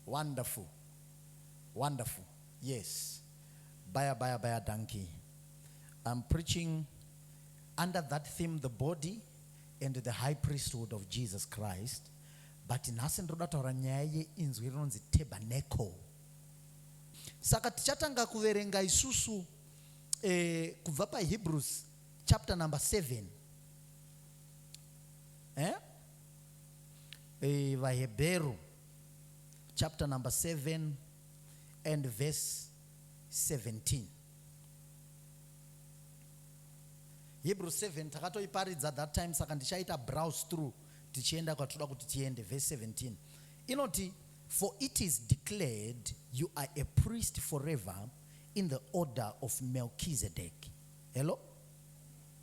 Wonderful. Wonderful. Yes. Baya, baya, baya, donkey. I'm preaching under that theme, the body and the high priesthood of Jesus Christ. But nhasi ndinoda kutaura nyaya yeinzwi rinonzi tabernacle. Saka tichatanga kuverenga isusu eh, kubva paHebrews chapter number 7 eh? Eh, vahebheru chapter number 7 and verse 17 hebrew 7 takatoiparidza that time saka ndichaita browse through tichienda kwatoda kuti tiende verse 17 inoti for it is declared you are a priest forever in the order of melchizedek hello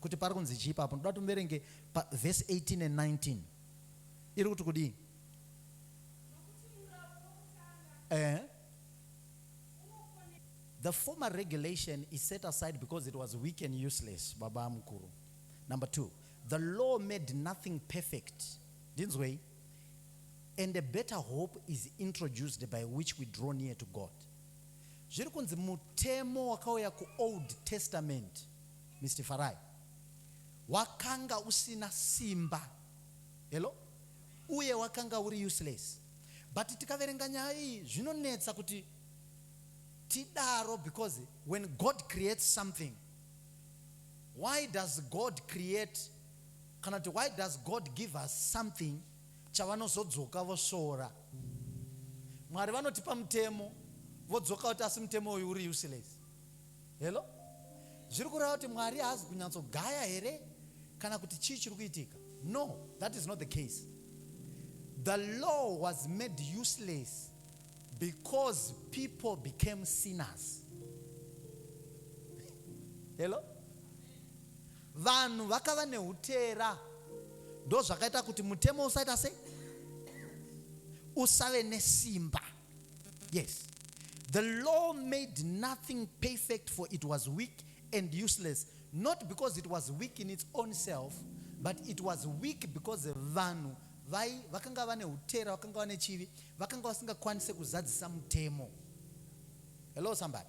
kuti parikunzi chii ipapo ndoda kuti muverenge pa verse 18 and 19 iri kuti kudii eh the former regulation is set aside because it was weak and useless baba mukuru number two the law made nothing perfect ndinzwei and a better hope is introduced by which we draw near to god Zviri kunzi mutemo wakauya ku old testament Mister Farai wakanga usina simba hello uye wakanga uri useless but tikaverenga nyaya iyi zvinonetsa kuti tidaro because when God creates something why does God create kana kuti why does God give us something chavanozodzoka vosvora Mwari vanotipa mutemo vodzoka voti asi mutemo uyu uri useless hello zviri kureva kuti Mwari haazi kunyatsogaya here kana kuti chii chiri kuitika no that is not the case the law was made useless because people became sinners hello Vanhu vakava nehuteera ndozvakaita kuti mutemo usaita sei? Usave nesimba. Yes. The law made nothing perfect for it was weak and useless not because it was weak in its own self but it was weak because vanhu vai vakanga vane utera vakanga vane chivi vakanga vasingakwanise kuzadzisa mutemo hello somebody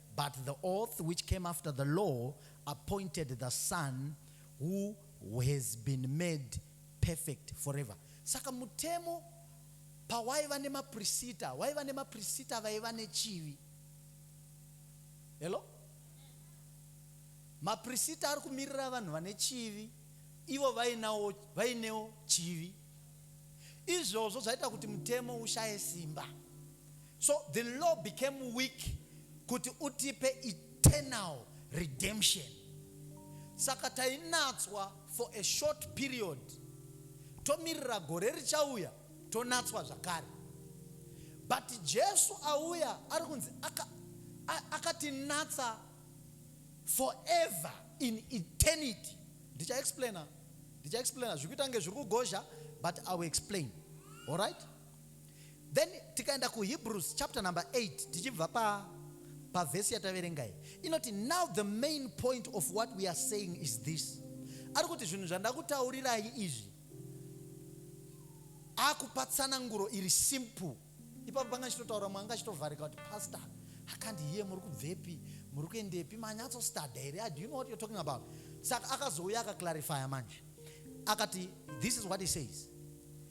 But the oath which came after the law appointed the son who has been made perfect forever. Saka mutemo pawaiva nemaprisita, waiva nemaprisita vaiva nechivi. Hello? Maprisita ari kumirira vanhu vane chivi, ivo vainawo vainewo chivi. Izvozvo zvaita kuti mutemo ushaye simba. So the law became weak kuti utipe eternal redemption. Saka tainatswa for a short period, tomirira gore richauya tonatswa zvakare. But Jesu auya ari kunzi akatinatsa aka forever in eternity. Ndicha explainer, ndicha explainer zvikuita kunge zviri kugozha but I will explain. All right? Then tikaenda kuHebrews chapter number 8 tichibva pa pavhesi yataverenga iyi inoti now the main point of what we are saying is this ari kuti zvinhu zvandakutaurirai izvi akupa tsananguro iri simple ipapo panga chitotaura mwanga chitovharika kuti pastor akandi hiye muri kubvepi muri kuendepi manyatso stada here ah, do you know what you're talking about saka akazouya akaclarifya manje akati this is what he says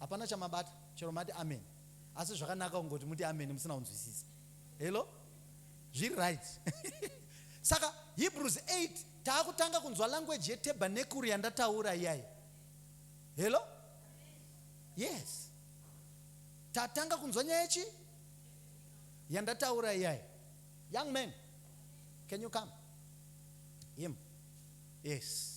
hapana chamabata chero mati amen asi zvakanaka kungoti muti amen musina kunzwisisa hello zviri right saka hebrews 8 taakutanga kunzwa language yetabernekuru yandataura iyayi hello yes tatanga kunzwa nyaya yechi yandataura iyayi young man can you come him yes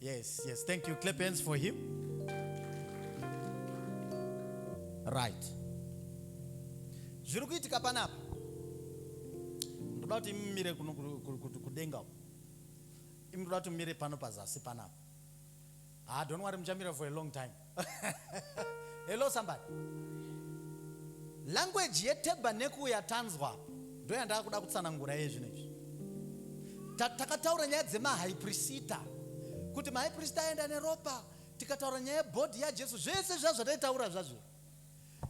Yes, yes. Thank you. Clap hands for him. Right. Zviri kuitika panapa. Ndoda kuti mumire kuno kudenga uko. Imi ndoda kuti mumire pano pazasi panapa. Ah, don't worry muchamira for a long time. Hello somebody. Language yetabernacle yatanzwa apa ndoyandava kuda kutsanangura yezvinhu izvi. Takataura nyaya dzemahaiprisita kuti mahaiprisita aenda neropa, tikataura nyaya yebhodhi yaJesu, zvese zviya zvataitaura zvazvo,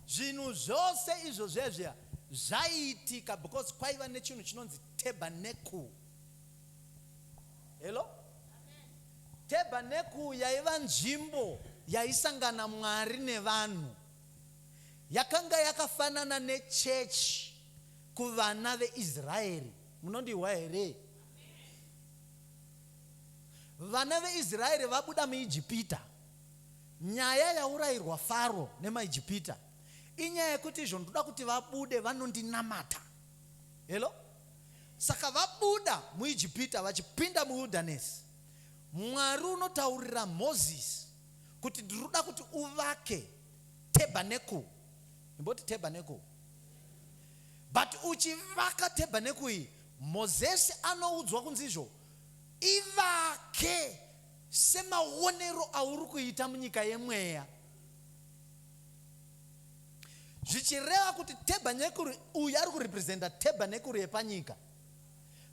zvinhu zvose izvo zviya zviya zvaiitika because kwaiva nechinhu chinonzi tabernacle. Hello? Tabernacle yaiva nzvimbo yaisangana Mwari nevanhu. Yakanga yakafanana nechechi kuvana veIsraeri. Munondihwa here? Vana veIsraeri vabuda muIjipita. Nyaya yaurayirwa Faro nemaIjipita inyaya yekuti izvo ndoda kuti vabude vanondinamata. Hello? Saka vabuda muIjipita vachipinda muwildanesi, Mwari unotaurira Mozisi kuti ndinoda kuti uvake tebhanekuru. Imboti tebhanekuru. But uchivaka tebhanekuru iyi, Mozisi anoudzwa kunzi izvo, ivake semaonero auri kuita munyika yemweya. zvichireva kuti tebhanekuri uyu ari kurepresenta tebhanekuri yepanyika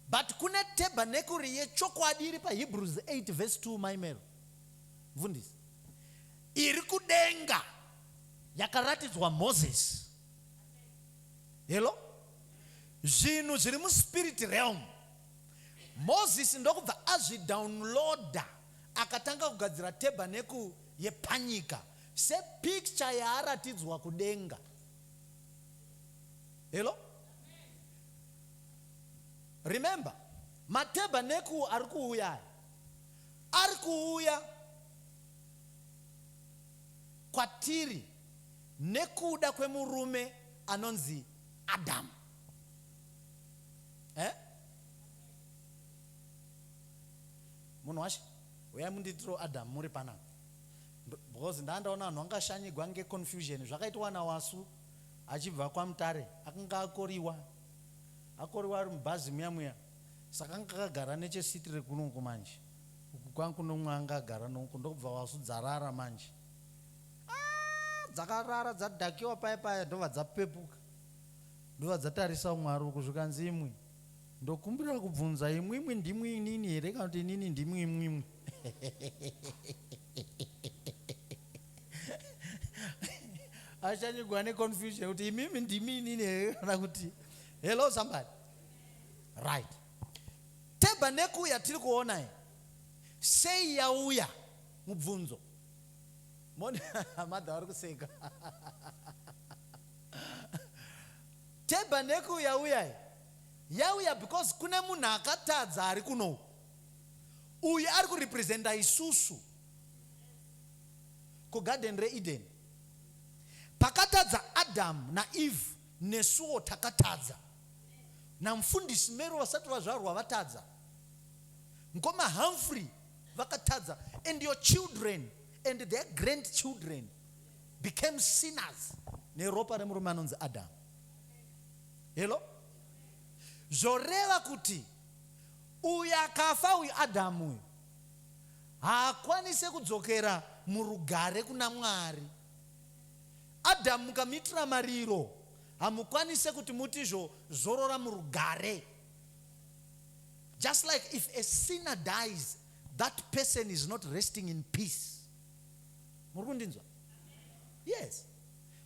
but kune tebhanekuri yechokwadi iri pahebrews 8 vhesi 2 maimero mvundisi iri kudenga yakaratidzwa moses helo zvinhu zviri muspirit realm moses ndokubva azvidownloada akatanga kugadzira tebhanekuri yepanyika Se picture yaaratidzwa kudenga. Hello? Remember, matabernacle ari kuuya aya ari kuuya kwatiri nekuda kwemurume anonzi Adamu. Eh? Munhu washe, uyai munditiro Adamu muri panapa. Because ndandaona vanhu vangashanyigwa nge confusion zvakaitwa na Wasu achibva kwa Mutare akanga akoriwa akoriwa ari mubhazi muya muya saka anga akagara neche seat rekuno uko manje uku kwangu nomwe anga agara nouko ndokubva Wasu dzarara manje aah dzakarara dzadhakiwa paya paya ndobva dzapepuka ndobva dzatarisa umwe ari uku zvikanzi imwi Ndokumbira kubvunza imwimwi ndimwi inini here kana kuti inini ndimwi imwimwi? Achanyigwa neconfusion kuti imimi ndimi inini here kana kuti hello somebody. Right. Tabernacle yatiri kuona iyi sei yauya mubvunzo? Mona madha vari kuseka. Tabernacle yauya iyi yauya because kune munhu akatadza ari kuno uku. Uyu ari kurepresenta isusu. KuGarden reEden pakatadza Adam naEve nesuwo takatadza. NaMfundisi Mero vasati vazvarwa vatadza. Mkoma Humphrey vakatadza and your children and their grandchildren became sinners neropa remurume anonzi Adam. Hello? Zvoreva kuti uyu akafa uyu Adam uyu haakwanise kudzokera murugare kuna Mwari. Adam mukamitira mariro hamukwanise kuti muti zvo zorora murugare. Just like if a sinner dies that person is not resting in peace. muri kundinzwa yes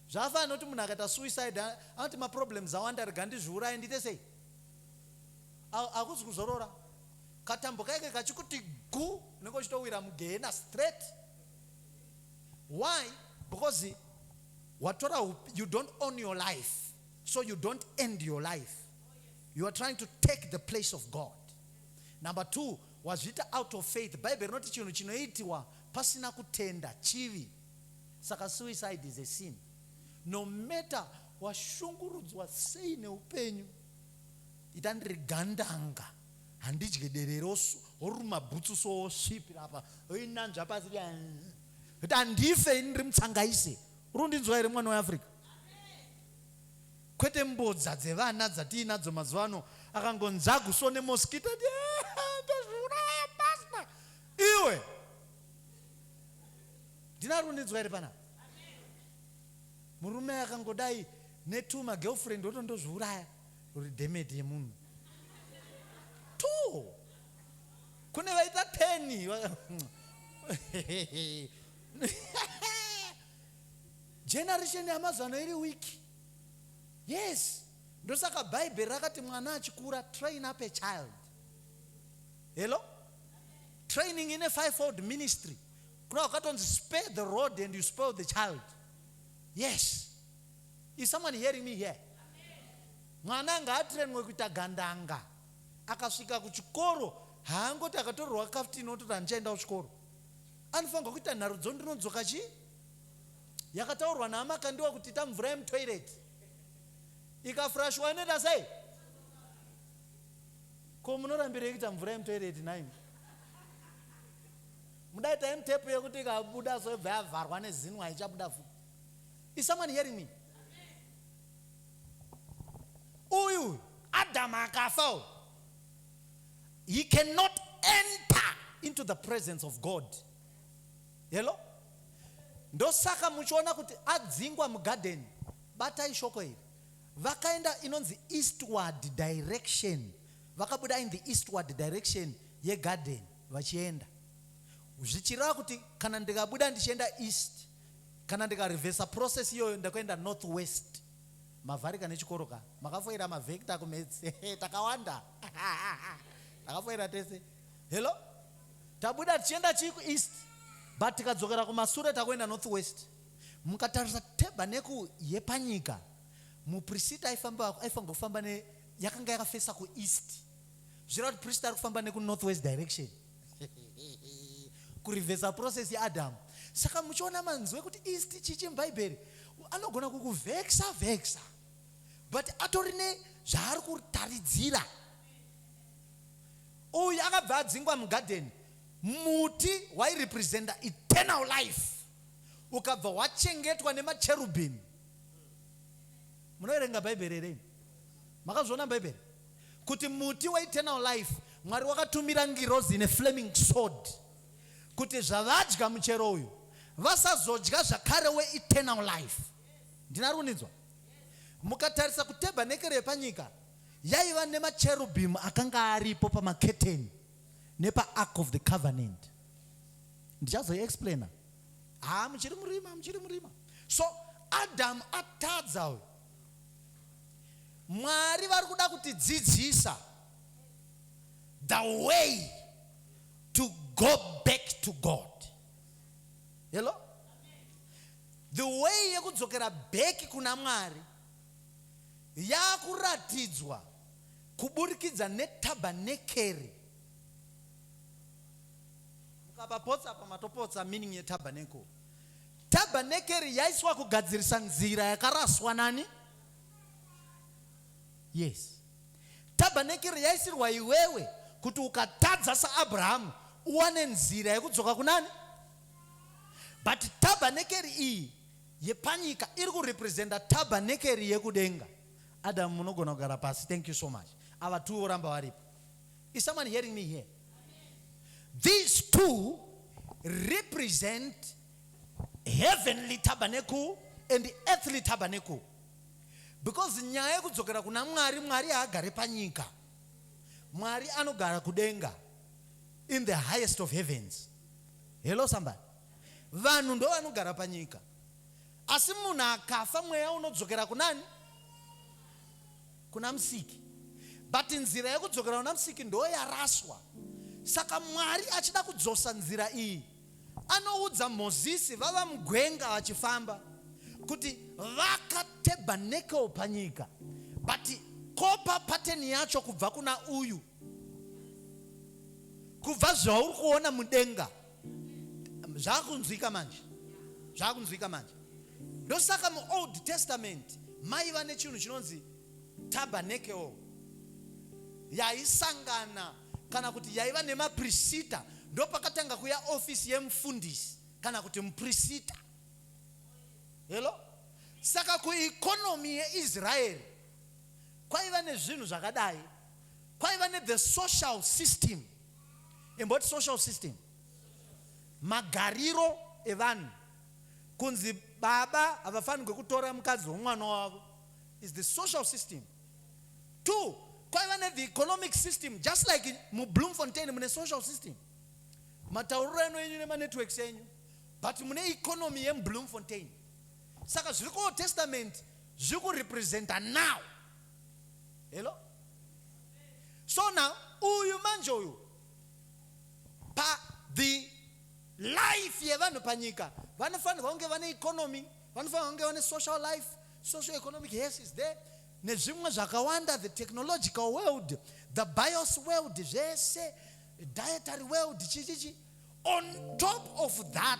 zvafa anoti munhu akaita suicide anoti maproblems awanda rega ndizviuraye ndiite sei akuzi kuzorora katambo kaike kachikuti gu unenge uchitowira mugehena straight why because watora you don't own your life so you don't end your life you are trying to take the place of god number two wazviita out of faith bhaibheri rinoti chinhu chinoitiwa Pasina kutenda chivi saka suicide is a sin no matter washungurudzwa sei neupenyu ita ndiri gandanga handidye derero woruma bhutsu so wosvipira apa oinanzva pasi kuti handife ini ndiri mutsangaise uri kundinzwa here mwana weafrica kwete mbodza dzevana dzatiinadzo mazuva ano akangonzagu so nemoskita Iwe. Ndina runidzwa iri panapa. Murume akangodai netuma girlfriend otondozviuraya uri demeti yemunhu. Two. Kune vaita teni. Generation yamazano iri wiki. Yes. Ndosaka Bible rakati mwana achikura train up a child. Hello? Training in a fivefold ministry. Kuna wakatonzi spare the road and you spoil the child. Yes. Is someone hearing me here? Mwana anga atrenwe kuita gandanga. Akasvika kuchikoro haangoti akatorerwa kaftini ototi handichaenda kuchikoro. Anofanirwa kuita nharudzo ndinodzoka chii? Yakataurwa naamakandiwa kuti ita mvura yemutoireti. Ikafurashiwa inoita sei? Ko munorambirei kuita mvura yemutoireti nhaimi? Mudai time tape yekuti ikabuda so yobva yavharwa nezinwa haichabuda futi. Is someone hearing me? Uyu Adam akafa uyu. He cannot enter into the presence of God. Hello? Ndosaka muchiona kuti adzingwa mugarden. Batai shoko iri. Vakaenda inonzi eastward direction vakabuda in the eastward direction yegarden vachienda zvichireva kuti kana ndikabuda ndichienda east kana ndikarevhesa process iyoyo ndakuenda north west mavharika nechikoro ka makafoira mavhekta kumets takawanda takafoira tese hello tabuda tichienda chii kueast but tikadzokera kumasure takuenda north west mukatarisa tebaneku yepanyika Muprisita aifamba aifanirwa kufamba ne yakanga yakafesa ku east. Zvireva kuti prisita ari kufamba neku north west direction. Kurivhesa process ya Adam. Saka muchiona manzwe kuti east chichi mubhaibheri anogona kukuvheksa vheksa but atori ne zvaari kutaridzira. Uyu akabva adzingwa mugadheni muti wairepresenta eternal life ukabva wachengetwa nemacherubhim munoverenga bhaibheri here imi makazviona bhaibheri kuti muti weeternal life mwari wakatumira ngirozi ine flaming sword kuti zvavadya muchero uyu vasazodya zvakare weeternal life ndina runidzwa mukatarisa kutabernekere yepanyika yaiva nemacherubim akanga aripo pamaketeni nepaark of the covenant ndichazoiexplaina haa muchiri murima muchiri murima so adamu atadza uyu mwari vari kuda kutidzidzisa the way to go back to god hello the way yekudzokera bheki kuna mwari yakuratidzwa kuburikidza netabhanekeri Mukapapotsa apa matopotsa meaning ye tabernacle. Tabernacle yaiswa kugadzirisa nzira yakaraswa nani? Yes. Tabernacle yaisirwa iwewe kuti ukatadza saAbrahamu uwane nzira yekudzoka kunani? But tabernacle iyi yepanyika iri kurepresenta tabernacle yekudenga. Adam munogona kugara pasi. Thank you so much. Ava two voramba varipo. Is someone hearing me here? These two represent heavenly tabernacle and earthly tabernacle because nyaya yekudzokera kuna mwari mwari haagare panyika mwari anogara kudenga in the highest of heavens hello somebody vanhu ndo vanogara panyika asi munhu akafa mweya unodzokera kunani kuna musiki but nzira yekudzokera kuna musiki ndoo yaraswa saka mwari achida kudzosa nzira iyi anoudza mozisi vava mugwenga vachifamba kuti vaka tabernacle panyika but kopa pateni yacho kubva kuna uyu kubva zvauri kuona mudenga zvakunzwika manje zvakunzwika manje ndosaka muold testament maiva nechinhu chinonzi tabernacle yaisangana kana kuti yaiva nemaprisita ndopakatanga kuya ofisi yemufundisi kana kuti muprisita helo saka kuekonomi yeisraeri kwaiva nezvinhu zvakadai kwaiva nethe social system imboti social system magariro evanhu kunzi baba havafanirwe kutora mukadzi womwana wavo is the social system two kwaiva nethe economic system just like mubloomfontain mune social system matauriro eno enyu nemanetworks enyu but mune economy yemubloomfontain saka zviri kuold testament zviri kurepresenta now Hello? So now, uyu manje uyu, pa the life yevanhu panyika, vanofanirwa kunge vane economy, vanofanirwa kunge vane social life, social economic yes is there, nezvimwe zvakawanda, the technological world, the bios world, zvese, dietary world, chichichi. On top of that,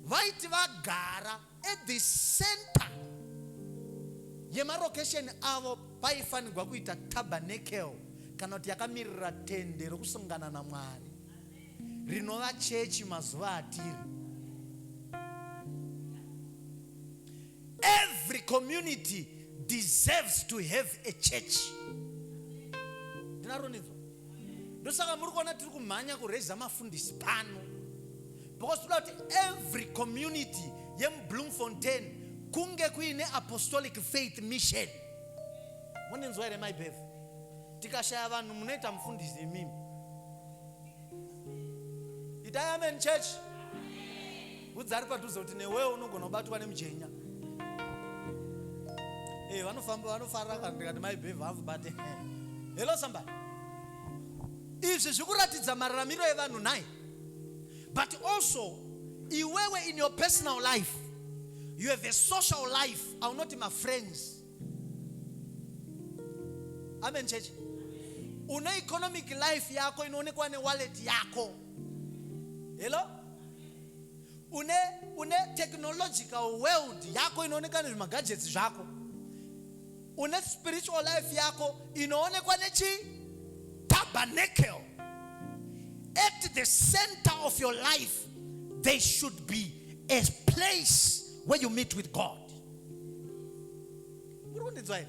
vaiti vagara at the center yemarokesheni avo paifanirwa kuita tabernacle kana kuti yakamirira tende rokusungana namwari rinova chechi mazuva atiri every community deserves to have a church ndinaronidzwa ndosaka muri kuona tiri kumhanya kureza mafundisi pano because toda kuti every community yemubloomfontain kunge kuine apostolic faith mission monenzwa here maibev tikashaya vanhu munoita mufundisi imimi itai amen church Udza ari padhuze kuti newewo unogona kubatwa nemujenya. Eh, vanofamba vanofara kana ndikati mai bhevhu hanzi bate. Hello somebody. Izvi zvikuratidza mararamiro evanhu nhai. But also iwewe in your personal life you have a social life aunoti mafriends amen chechi une economic life yako inoonekwa newallet yako hello une une technological world yako inoonekwa nezvimagajets zvako une spiritual life yako inoonekwa nechi tabernacle at the center of your life there should be a place where you meet with god muri kundinzwa here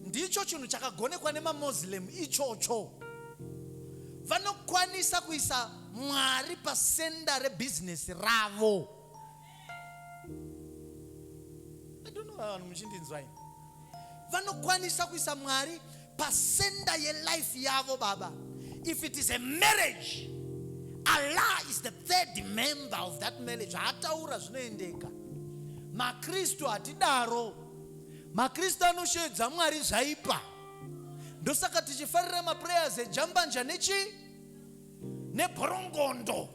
ndicho chinhu chakagonekwa nemamoslem ichocho vanokwanisa kuisa mwari pasenda rebhizinesi ravo vanhu muchindinzwai vanokwanisa kuisa mwari pasenda yelife yavo baba if it is a marriage allah is the third member of that marriage haataura zvinoendeka makristu hatidaro makristu anosheedza mwari zvaipa ndosaka tichifarira maprayers ejambanja nechi neborongondo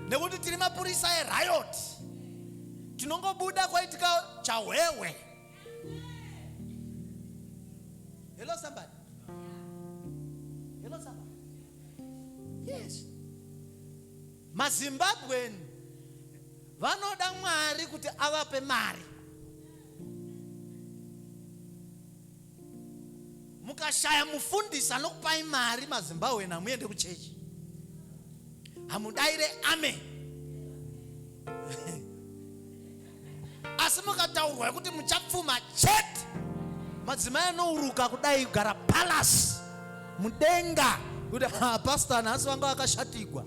nekuti tiri mapurisa eriot tinongobuda kwaitika chahwehwe Hello somebody. Hello somebody. Yes. MaZimbabwean vanoda Mwari kuti avape mari. Mukashaya mufundisi anokupai mari maZimbabwean hamuende kuchechi. Hamudaire amen. asi mukataurwa yekuti muchapfuma chete madzimai anouruka kudai kugara palasi mudenga kuti pasta nhasi vanga vakashatigwa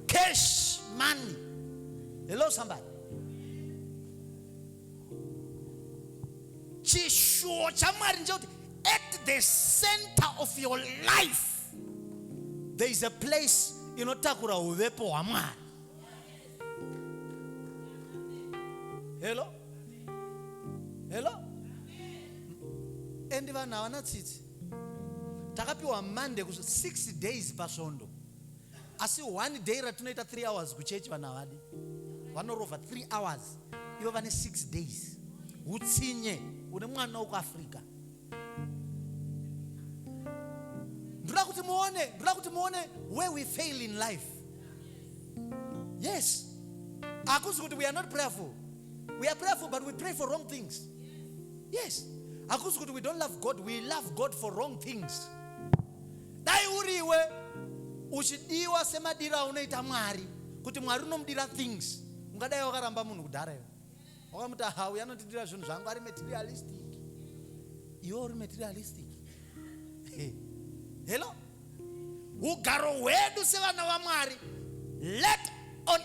cash money hello somebody chishuwo chamwari ndechekuti at the center of your life there is a place inotakura uvepo hwamwari hello hello and vanhu havana tsitsi takapiwa monday ku six days pasvondo asi one day ratinoita three hours kuchechi vanhu havadi vanorova three hours ivo vane six days utsinye une mwana wekuafrica ndoda kuti muone ndoda kuti muone where we fail in life yes hakuzi kuti we are not prayerful we are prayerful but we pray for wrong things yes hakuzi kuti we don't love god we love god for wrong things dai uriwe uchidiwa semadiro aunoita mwari kuti mwari unomudira things ungadai wakaramba munhu kudhara iwe wakamuti aha uyu anondidira zvinhu zvangu ari materialistic iwe uri materialistic hello ugaro hwedu sevana vamwari let on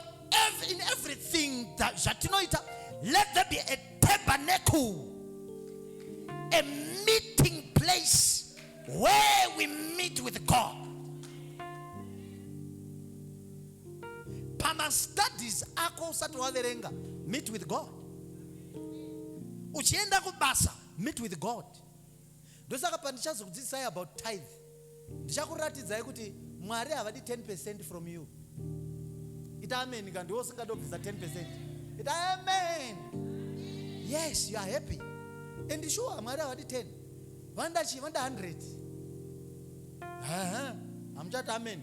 every, in everything zvatinoita let there be a tabernacle a meeting place where we meet with god pamastudies ako usati waverenga meet with god uchienda kubasa meet with god ndosaka pandichazokudzidzisai about tithe ndichakuratidzai kuti mwari havadi 10 percent from you ita amen ka ndiwo usingada kubvisa 10 percent ita amen yes you are happy and sure mwari havadi 10 vandachi vanda 100 hamuchati amen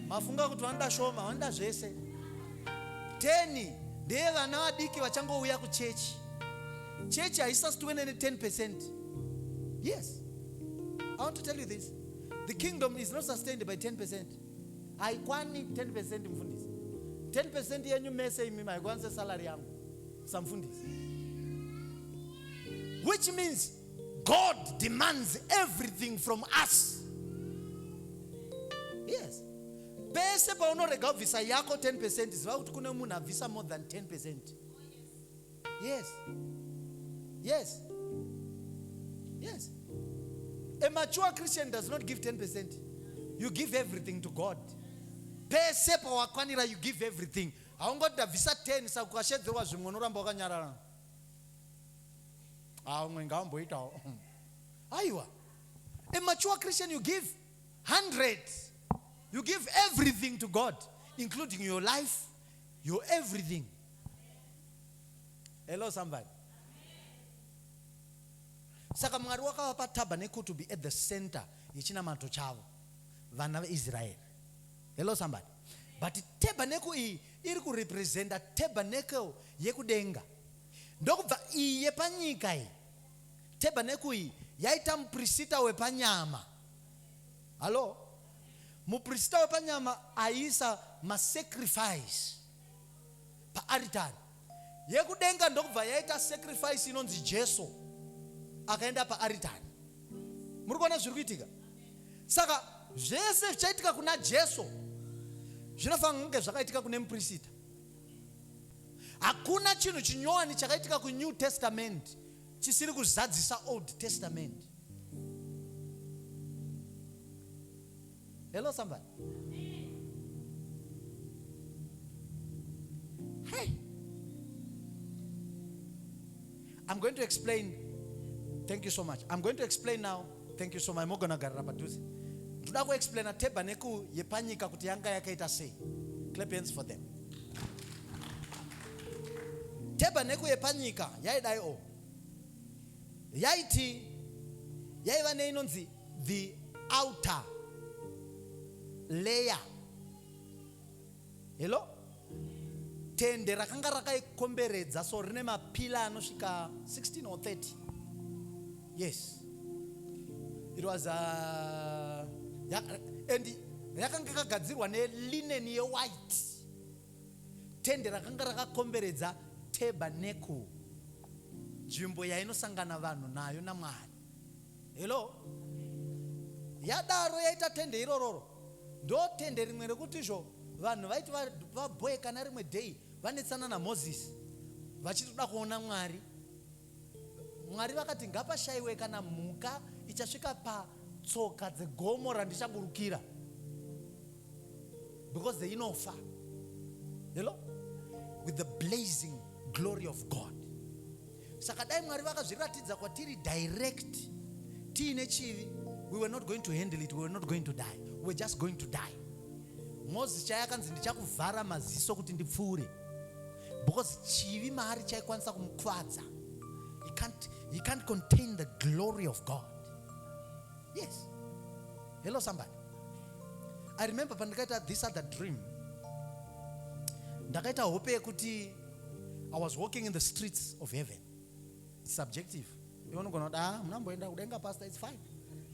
mafunga kuti vanoda shoma vanoda zvese teni ndeye vana vadiki vachangouya kuchechi chechi haisasitiwe nene 10 percent yes i want to tell you this the kingdom is not sustained by 10 percent haikwani 10 percent mfundisi 10 percent yenyu mese imi maikwanise salary yangu samfundisi which means God demands everything from us. Yes. Pese paunorega kubvisa yako 10% ziva kuti kune munhu abvisa more than 10%. Yes. Yes. Yes. A mature Christian does not give 10%. You give everything to God. Pese pawakwanira you give everything. Haungoti ndabvisa 10 sakukashedzerwa zvimwe unoramba wakanyarara. ah umwe ngaamboitawo aiwa a mature christian you give 100 you give everything to god including your life your everything hello somebody saka mwari wakavapa tabernacle to be at the center yechinamato chavo vana veisraeri hello somebody but tabernacle iyi iri kurepresenta tabernacle yekudenga ndokubva iyi yepanyika iyi tabernacle iyi yaita muprisita wepanyama hallo muprisita wepanyama aiisa masacrifice paaritari Yekudenga ndokubva yaita sacrifice inonzi Jesu akaenda paaritari. Muri kuona zviri kuitika? Saka zvese zvichaitika kuna Jesu zvinofanira kunge zvakaitika kune muprista. Hakuna chinhu chinyowani chakaitika kuNew Testament chisiri kuzadzisa Old Testament. Hello somebody. Hey. I'm going to explain. Thank you so much. I'm going to explain now. Thank you so much. Mogona garira padhuze. Ndoda kuexplaina tabernacle yepanyika kuti yanga yakaita sei. Clap hands for them. Tabernacle yepanyika yaidai o. Yaiti yaiva neinonzi the outer layer hello tende rakanga rakaikomberedza so rine mapila anosvika 16 or 30 yes it was a, uh, ya, and yakanga yakagadzirwa nelinen yewhite tende rakanga rakakomberedza tabernacle nzvimbo yainosangana vanhu nayo namwari hello yadaro yaita tende irororo ndo tende rimwe rekuti izvo vanhu vaiti vaboekana rimwe day vanetsana namozisi vachitoda kuona mwari mwari vakati ngapashaiwe kana mhuka ichasvika patsoka dzegomo randichaburukira because they inofa hello with the blazing glory of god saka dai mwari vakazviratidza kwatiri direct tiine chivi we were not going to handle it we were not going to die we were just going to die moses chaiye akanzi ndichakuvhara maziso kuti ndipfuure because chivi maari chaikwanisa kumukwadza he can't, he can't contain the glory of god yes hello somebody i remember pandikaita this other dream ndakaita hope yekuti I was walking in the streets of heaven. It's subjective. Iwe unogona kuti ah, muna mboenda kudenga pastor, it's fine.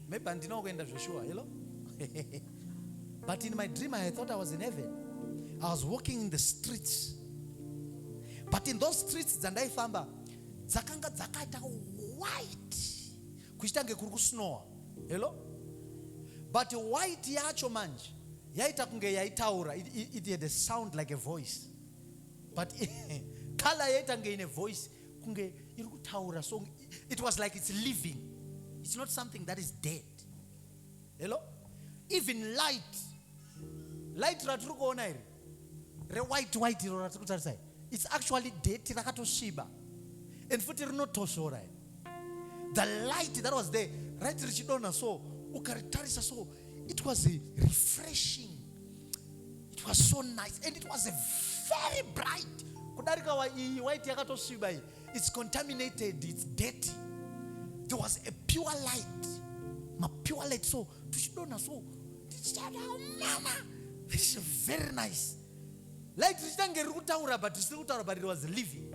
Maybe handina kuenda zveshuwa, hello? But in my dream I thought I was in heaven. I was walking in the streets. But in those streets dzandaifamba dzakanga dzakaita white kuchita kunge kuri kusnowa. Hello? But white yacho manje yaita kunge yaitaura. It, it, it had a sound like a voice. but color yaitange ine voice kunge iri kutaura song it was like it's living it's not something that is dead hello even light light ratiri kuona iri rewhite white iro ratiri kutarisai it's actually date rakatosviba and futi rinotosvora iri the light that was there right richidonha so ukaritarisa so it was refreshing it was so nice and it was a very bright kudarika wa iyi white yakatosviba iyi it's contaminated it's dirty there was a pure light mapure light so tuchidonha so tichitaura mama this is very nice light richitanga riri kutaura but risiri kutaura but it was living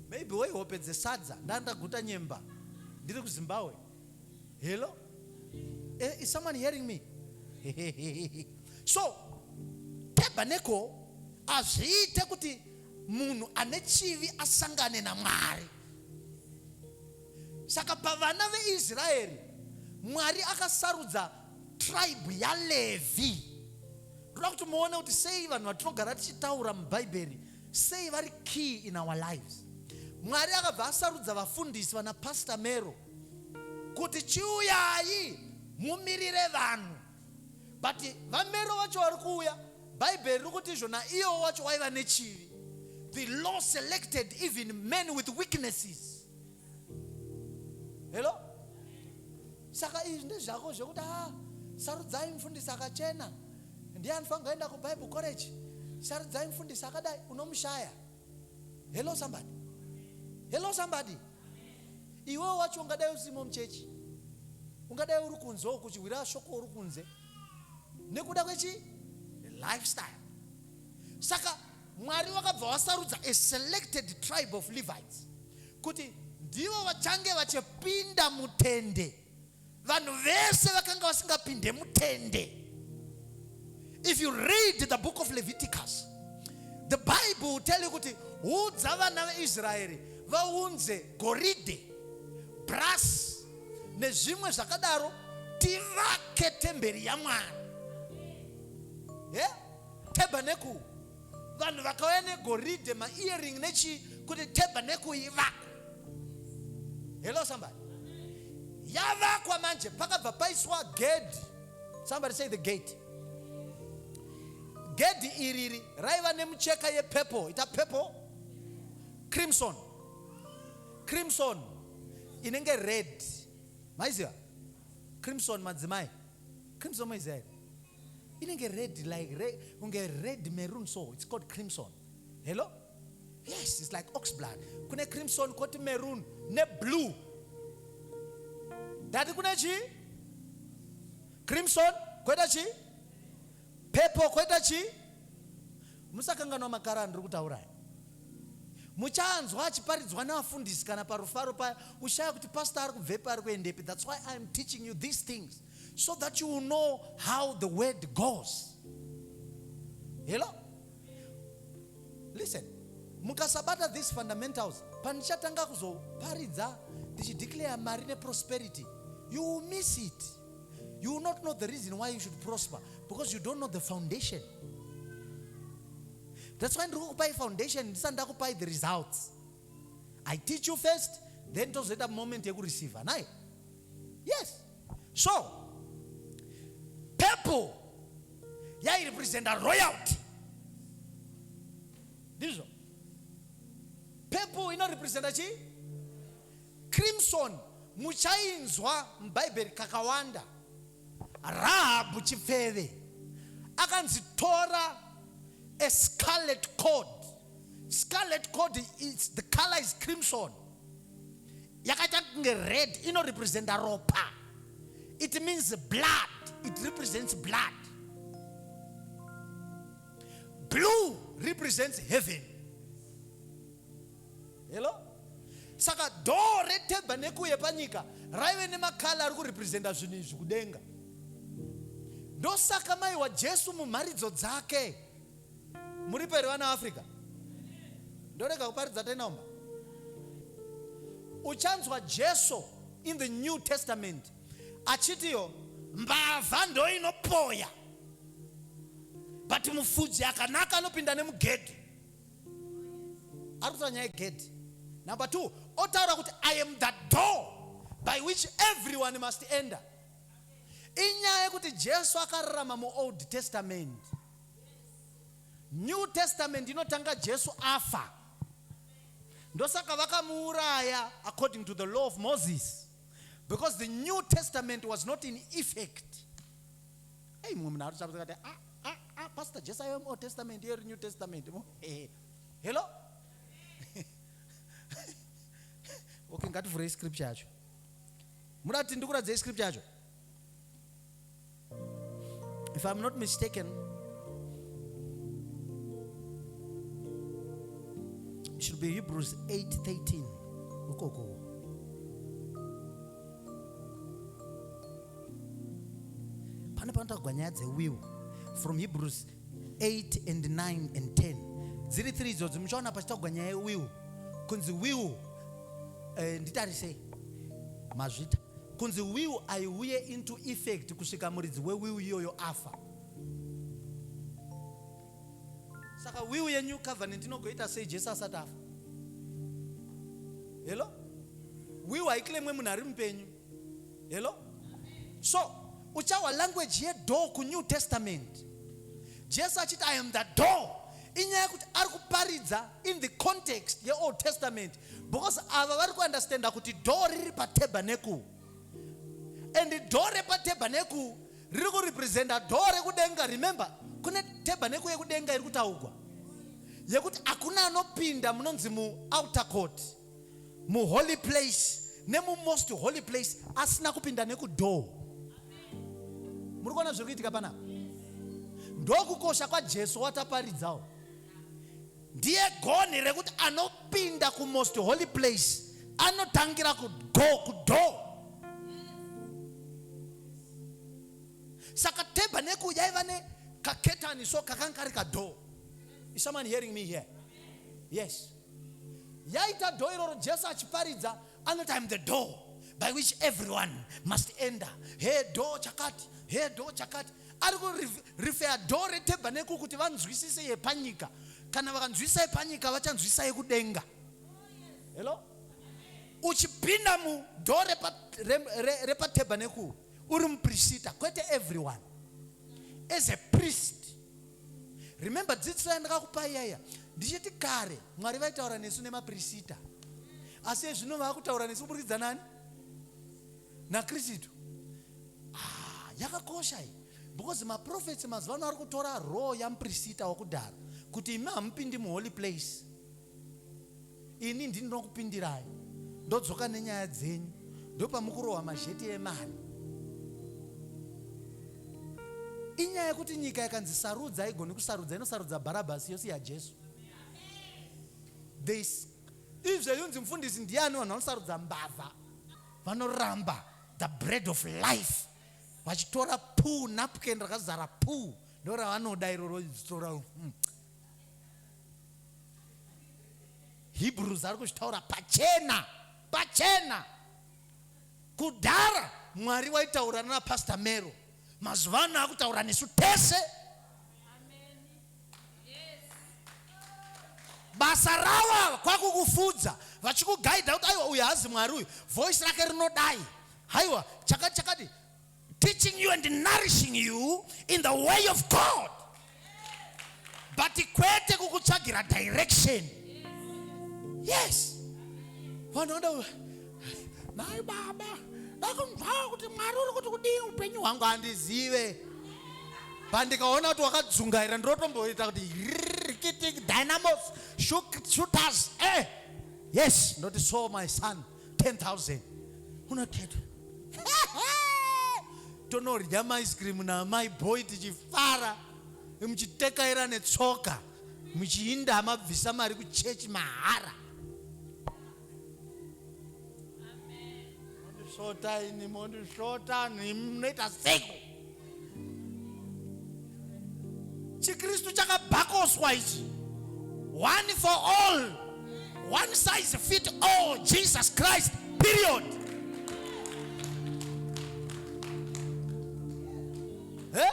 maybe waihope dzesadza ndandaguta nyemba ndiri kuzimbabwe Hello? Eh, is someone hearing me? so, tabernacle hazviite kuti munhu ane chivi asangane namwari saka pavana veisraeri mwari akasarudza tribe yalevi toda kuti muone kuti sei vanhu vatinogara tichitaura mubhaibheri sei vari key in our lives mwari akabva asarudza vafundisi vana pastor mero kuti chiuyai mumirire vanhu but vamero vacho vari kuuya bhaibheri riri kuti izvo naiyewo wacho waiva nechivi the law selected even men with weaknesses helo saka izvi ndezvako zvekuti a ah, sarudzai mfundisi akachena ndiye anofanira kuenda kubible college sarudzai mfundisi akadai unomushaya hello somebody hello somebody iwewo wacho ungadai usimo muchechi ungadai uri kunze ukuchihwira shoko uri kunze nekuda kwechi lifestyle saka mwari wakabva wasarudza a selected tribe of levites kuti ndivo vachange vachipinda mutende vanhu vese vakanga vasingapinde mutende if you read the book of leviticus the bible will tell you kuti udza vana veisraeri vaunze goridhe brass nezvimwe zvakadaro tivake temberi yamwari yeah? tabernacle vanhu vakauya negoridhe maearing nechii kuti tabernacle ivakwe Hello somebody. Yavakwa manje pakabva paiswa gedhi. Somebody say the gate. Gedhi iriri raiva nemucheka yepurple, ita purple crimson. Crimson inenge red. Maiziva? Crimson madzimai. Crimson maiziva here? Inenge red like red, kunge red maroon so it's called crimson. Hello? yes it's like ox blood kune crimson koti maroon neblue ndati kune chii crimson koita chii purple koita chii musakanganwa makara andiri kutauraya muchanzwa achiparidzwa nevafundisi kana parufaro paya ushaya kuti pastor ari kubvepi ari kuendepi thats why iam teaching you these things so that you will know how the word goes hello listen mukasabata these fundamentals pandichatanga kuzoparidza ndichideclare mari neprosperity you will miss it you will not know the reason why you should prosper because you don't know the foundation that's why ndiri kukupai foundation ndisati ndakupai the results i teach you first then tozoita moment yekureceiva naye yes so purple yairepresenta royalty ndizvo purple inorepresenta chii crimson muchainzwa mubhaibheri kakawanda rahabhu chipfeve akanzi tora a scarlet cord scarlet cord is the color is crimson yakaita kunge red inorepresenta ropa it means blood it represents blood blue represents heaven hello saka doo retaberneko yepanyika raive nemakala ari kurepresenta zvinhu izvi kudenga ndosaka maiwa jesu mumharidzo dzake Muripo here vana Africa? Ndorega kuparidza tenaumba. Uchanzwa Jesu in the New Testament achitiyo mbavha ndoinopoya but mufudzi akanaka anopinda nemugedhi. Ari kutaura nyaya yegedhi. Number two, otaura kuti I am the door by which everyone must enter. Inyaya yekuti Jesu akararama muOld Testament. New Testament inotanga Jesu afa, ndosaka vakamuuraya according to the law of Moses because the New Testament was not in effect. Hey, mumwe munhu arikuti akati ah, ah, ah, pastor Jesu aive muOld Testament iye iri New Testament. Hey, hello okay, ngativhurei scripture yacho. Muda kuti ndikuradzei scripture yacho? If I'm not mistaken, it should be Hebrews 8:13. Ukoko. Pane panotaurwa nyaya dzewiwo from Hebrews 8 and 9 and 10 dziri 3 idzodzo muchaona pachitaugwa nyaya yewiwu kunzi wiwu eh, nditarisei mazvita kunzi wiwu aiuye into effect kusvika muridzi wewiwu iyoyo afa saka wiwu yenew covenant inogoita sei jesu asati afa helo wiwu haiklemwe munhu ari mupenyu Hello? So, uchawa language yedoor kuNew Testament. Jesu achiti I am the door. Inyaya kuti ari kuparidza in the context yeOld Testament because ava vari kuunderstanda kuti door riri patabernekuru and door repatabernekuru riri kurepresenta door rekudenga. Remember, kune tabernekuru yekudenga iri kutaugwa yekuti hakuna anopinda munonzi muouter court. muholy place nemumost holy place asina kupinda nekudoor muri kuona zviri kuitika panapa ndokukosha kwajesu wataparidzawo ndiye gonhi rekuti anopinda kumost holy place anotangira kugo kudo saka tebha neku yaiva ne kaketani so kakanga kari kadoo is someone hearing me here yes yaita door iroro jesu achiparidza anoti im the door by which everyone must enter he door chakati he door chakati ari kurifeya door retebaneko kuti vanzwisise yepanyika kana vakanzwisisa yepanyika vachanzwisisa yekudenga hello uchipinda mudhoo repatebaneko uri muprisita kwete everyone as a priest remember dzidziso yandakakupai yaiya ndichiti kare mwari vaitaura nesu nemaprisita asi ezvino vaakutaura nesu kuburikidza nani nakristu ah, yakakosha iyi because maprofets mazuva ano ari kutora row yamuprisita wakudhara kuti imi hamupindi muholy place ini ndini ndinokupindirai ndodzoka nenyaya dzenyu ndopamukurohwa mazheti emari inyaya yekuti nyika yakanzi sarudza haigoni kusarudza inosarudza bharabhasi yosiya jesu this izve yunzi mfundisi ndiani vanhu vanosarudza mbavha vanoramba the bread of life vachitora puu napken rakazara puu ndoravanoda iroro itora hmm. Hebrews ari kuzvitaura pachena pachena. Kudhara Mwari waitaura nana Pastor Mero, mazuva ano akutaura nesu tese. Basa ravo kwakukufudza vachikugaidha kuti aiwa uyu haazi Mwari uyu, voice rake rinodai, haiwa chakati chakati teaching you and nourishing you in the way of God but kwete kukutsvagira direction yes vanhu vanoda nai baba ndakunzwawo kuti mwari uri kuti kudii upenyu hwangu handizive but ndikaona kuti wakadzungaira ndinotomboita kuti rikitik dynamos shooters eh yes ndoti so my son 10000 unakhetwa tonorya maice cream naamai boy tichifara muchitekaira netsoka muchiinda mabvisa mari kuchechi mahara mondisvota ini mondisvota noita seko chikristu chakabhakoswa ichi one for all one size fit all jesus christ period eh?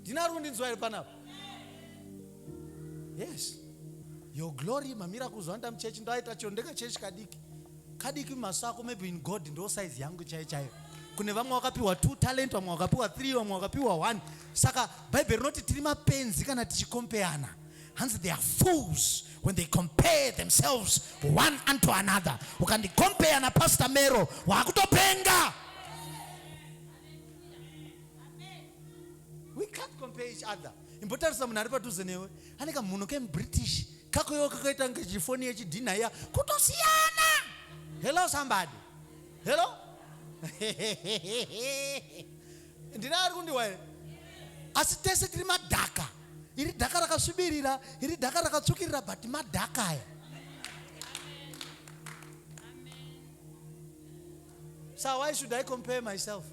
ndina ri kundinzwa iri panapa yes your glory mamira kuzwanda muchechi ndoaita chiro ndekachechi kadiki kadiki maso ako maybe in god ndo size yangu chaiyo chaiyo kune vamwe wakapiwa two talent vamwe wakapiwa three vamwe wakapiwa one saka bhaibheri rinoti tiri mapenzi kana tichikompeyana hanzi they are fools when they compare themselves one unto another ukandikompeya napastor mero waakutopenga we can't compare each other imbotarisa munhu ari padhuze newe ane kamhuno kemubritish kakoyo kakaita kunge chifoni yechidhinha iya kutosiyana hello somebody hello ndine ari kundiwa here asi tese tiri madhaka iri dhaka rakasvibirira iri dhaka rakatsvukirira but madhaka aya so why should i compare myself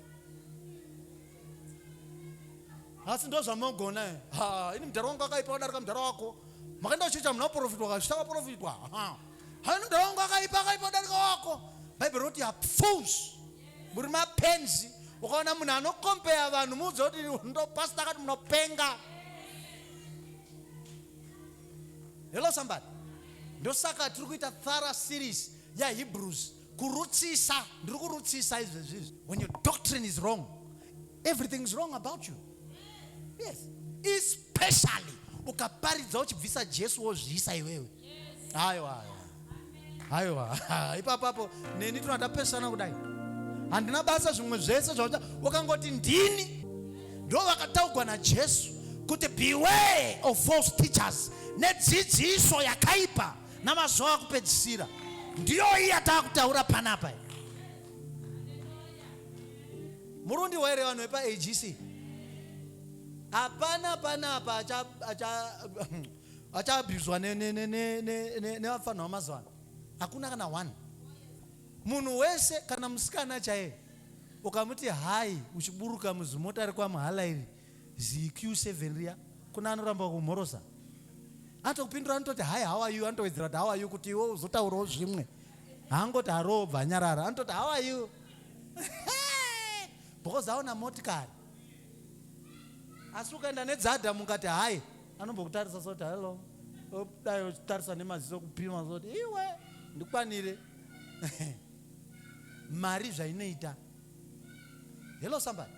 asi ndozvamogona eh? ha ini mudhara wangu akaipa wadarika mudhara wako makaenda kuchechi hamuna kuprofitwa kazvita kaprofitwa ha haini mudhara wangu akaipa akaipa wadarika wako bhaibheri roti apfus muri mapenzi ukaona munhu anokompeya vanhu muudze kuti ndopasita akati munopenga hello somebody ndosaka tiri kuita thara series yahebrews yeah, kurutsisa ndiri kurutsisa izvezvi izvi when your doctrine is wrong everything is wrong about you yes especially ukaparidza uchibvisa jesu wozviisa iwewe hayo hayo haiwa ipapapo neni tona tapesana kudai handina basa zvimwe zvese zvauta wakangoti ndini ndo vakataugwa najesu kuti beware of false teachers nedzidziso yakaipa namazuva akupedzisira ndiyo iyi yatakutaura panapa murundi waire vanhu vepaagc hapana panapa achaabhuzwa nevafanha vamazuva ano hakuna kana one munhu wese kana musikana chaiye ukamuti hai uchiburuka muzimota rekwamuhala iri ziQ7 riya kune anoramba kumhorosa atokupindura anototi hi how are you anotowedzera kuti how are you kuti iwe uzotaurawo zvimwe haangoti haroo bva anyarara anototi how are you because aona motikari asi ukaenda nedzada mukati hai anombokutarisa soti hello dai uchitarisa nemaziso kupima soti iwe ndikwanire mari zvainoita hello somebody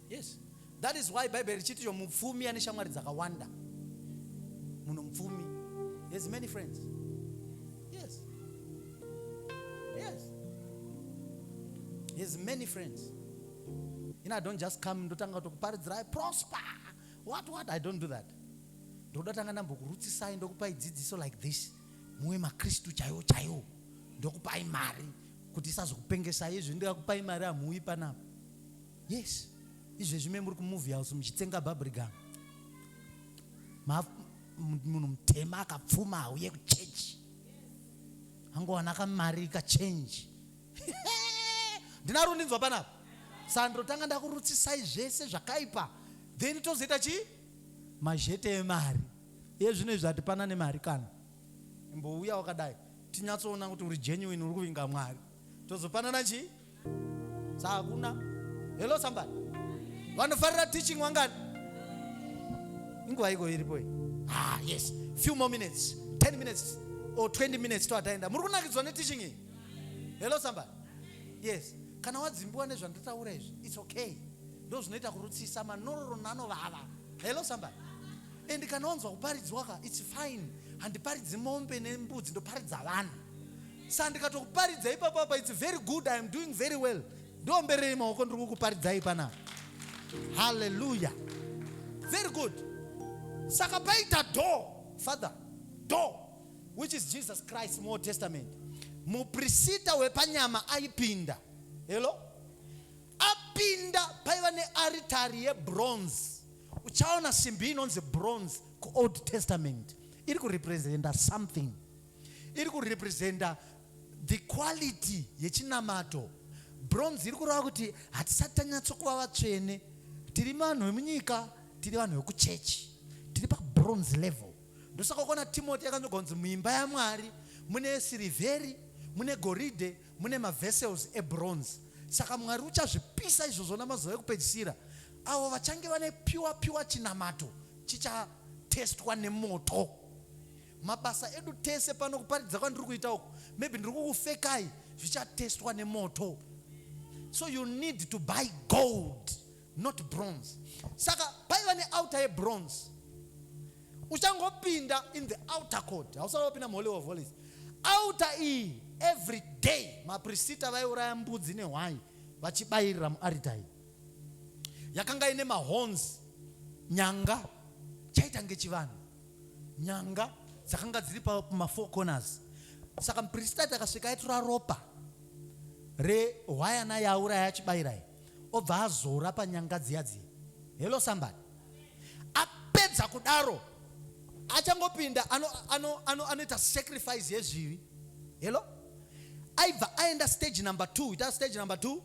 yes that is why bible richiti yo mupfumi ane shamwari dzakawanda munhu mupfumi has many friends yes yes has many friends ina i don't just come ndotanga kutokuparidzirai prosper what what i don't do that ndoda tanga ndambokurutsisai ndokupai dzidziso like this muwe makristu chaiwo chaiwo ndokupai mari kuti isazokupengesai izvi ndikakupai mari hamuuyi panapa yes izvezvi me muri kumovie house muchitsenga babrigam munhu mutema akapfuma hauye kuchechi angowana kamari kachenji ndina rundinzwa panapa sandro tanga ndakurutsisai zvese zvakaipa then tozoita chii Mazhete emari iye zvino izvi hatipana nemari kana. Imbouya wakadai tinyatsoona kuti uri genuine uri kuvinga Mwari tozopanana chii? Sa hakuna. Hello somebody. Vanofarira teaching wangani? Inguva iko iripo iyi. Ah yes. Few more minutes. 10 minutes or 20 minutes to ataenda. Muri kunakidzwa ne teaching iyi? Hello somebody. Yes. Kana wadzimbiwa nezvandataura izvi, it's okay. ndozvinoita kurutsisa manororo nanovava hello somebody and kana wanzwa kuparidzwa ka its fine handiparidzi mombe nembudzi ndoparidza vanhu sa ndikatokuparidza ipapo apa its very good i am doing very well ndiomberei maoko ndiri kukuparidzai panapa haleluya very good saka paita door father door which is jesus christ more testament muprisita wepanyama aipinda hello Apinda paiva nearitari yebronze. Uchaona simbi inonzi bronze kuOld Testament iri kurepresenta something, iri kurepresenta the quality yechinamato. Bronze iri kureva kuti hatisati tanyatsokuva vatsvene, tiri vanhu vemunyika, tiri vanhu vekuchechi, tiri pabronze level. Ndosaka ukaona Timoti yakanzi muimba yaMwari mune sirivheri mune goridhe mune mavessels ebronze saka mwari uchazvipisa izvozvo namazuva ekupedzisira avo vachange vane pure pure chinamato chichatestwa nemoto mabasa edu tese pano kuparidza kwandiri kuita uku maybe ndiri kukufekai zvichatestwa nemoto so you need to buy gold not bronze saka paiva neouter yebronze uchangopinda in the outer court hausati wapinda muholy of holies outer iyi every day maprisita vaiuraya mbudzi nehwai vachibayirira muaritari yakanga ine mahons nyanga chaita ngechivanhu nyanga dzakanga dziri pamafour corners saka muprisita takasvika aitora ropa rehwayana yauraya achibayirai obva azora panyanga dziya dziya hello somebody apedza kudaro achangopinda anoita ano, ano, ano sacrifice yezvivi hello aibva aenda stage number two ita stage number two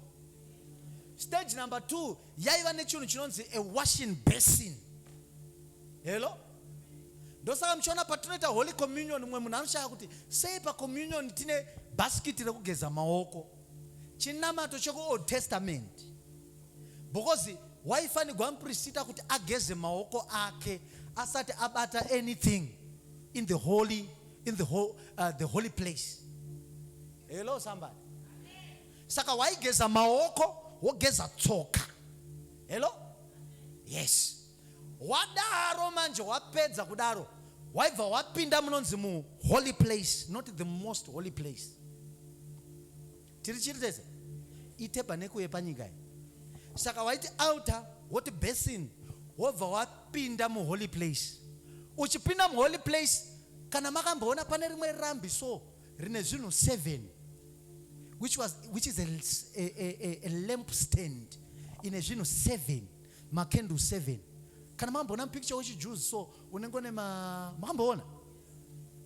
stage number two yaiva nechinhu chinonzi a washing basin hello ndosaka muchiona patinoita holy communion mumwe munhu anoshaya kuti sei pacommunion tine bhasikiti rekugeza maoko chinamato chekuold testament because waifanigwa muprisita kuti ageze maoko ake asati abata anything in the holy, in the, ho, uh, the holy place hello somebody saka waigeza maoko wogeza tsoka hello yes Wadaro manje wapedza kudaro waibva wapinda munonzi mu holy place not the most holy place. Tiri chiri tese ite paneku yepanyika iyi. Saka waiti altar woti basin wobva wapinda mu holy place. Uchipinda mu holy place kana makamboona pane rimwe rambi so rine zvinhu seven which was which is a, a, a, a lamp stand ine zvinhu seven Ma candle seven. Kana mamboona picture wechi Jews so unenge une ma makamboona?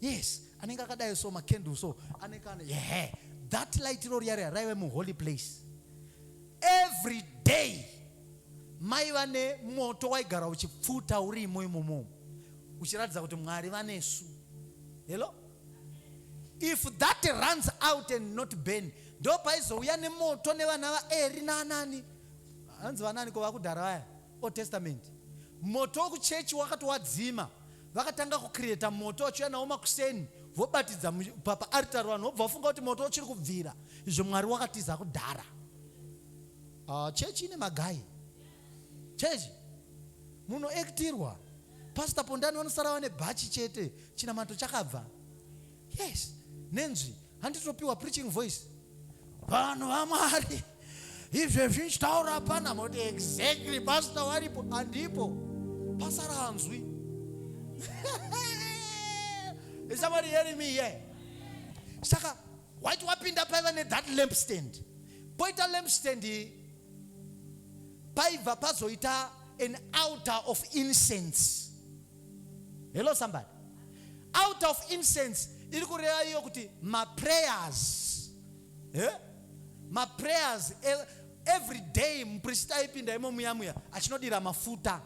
Yes, anenge akadai so ma candle so anenge ane yeah. That light iro riya riya raive mu holy place. Every day mai vane moto waigara uchipfuta urimo imomo uchiratidza kuti Mwari vanesu. Hello? If that runs out and not burn, ndopaizouya nemoto nevana vaeri nanani Hanzi vanani ko vakudhara vaya old testament moto wekuchechi wakatowadzima vakatanga kucreata moto vachiuya nawo makuseni vobatidza papa aritari vanhu vobva vafunga kuti moto uchiri kubvira izvo mwari wakatiza kudhara uh, ah, chechi ine magai chechi munoektirwa pastor pondani vanosara vane bhachi chete chinamato chakabva yes nenzwi handitopiwa preaching voice vanhu vamwari izvezvi ndichitaura hapana moti exactly pastor waripo andipo pasara hanzwi is somebody hearing me here saka waiti wapinda paiva nethat lamp stand poita lamp stand paiva pazoita an outer of incense Hello somebody. Out of incense iri kureva iyo kuti maprayers eh? maprayers every day mupristi aipinda imo muya muya achinodira mafuta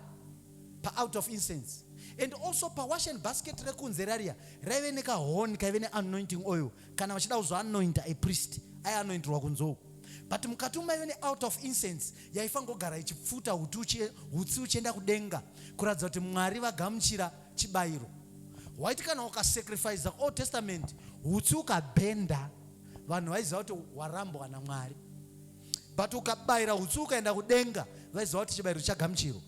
paout of incense and also pawashen basket rekunze rariya raive nekahoni kaive neanointing oil kana vachida kuzoanointa apriest aianointirwa kunzou but mukati umaive neout of incense yaifangogara ichipfuta hutsi uchienda kudenga kuratidza kuti mwari vagamuchira chibayiro waiti kana ukasacrifice old testament hutsi ukabhenda vanhu vaiziva kuti warambwa namwari but ukabayira hutsi ukaenda kudenga vaiziva kuti chibayiro chagamuchirwa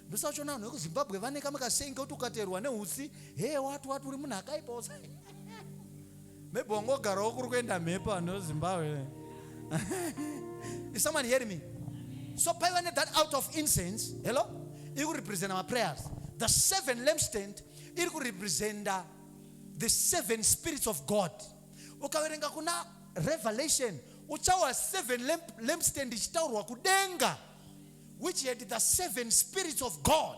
ndosachiona vanhu vekuzimbabwe vane kamwe kasengi kuti ukaterwa neutsi he wati wati uri munhu akaipa Maybe wangogarawo kuri kuenda mhepo vanhu veZimbabwe. Is someone hearing me? So paiva ne that out of incense, hello? Iri kurepresenta maprayers. The seven lampstand iri kurepresenta the seven spirits of God. Ukaverenga kuna Revelation uchawa seven lamp, lampstand ichitaurwa kudenga which had the seven spirits of God.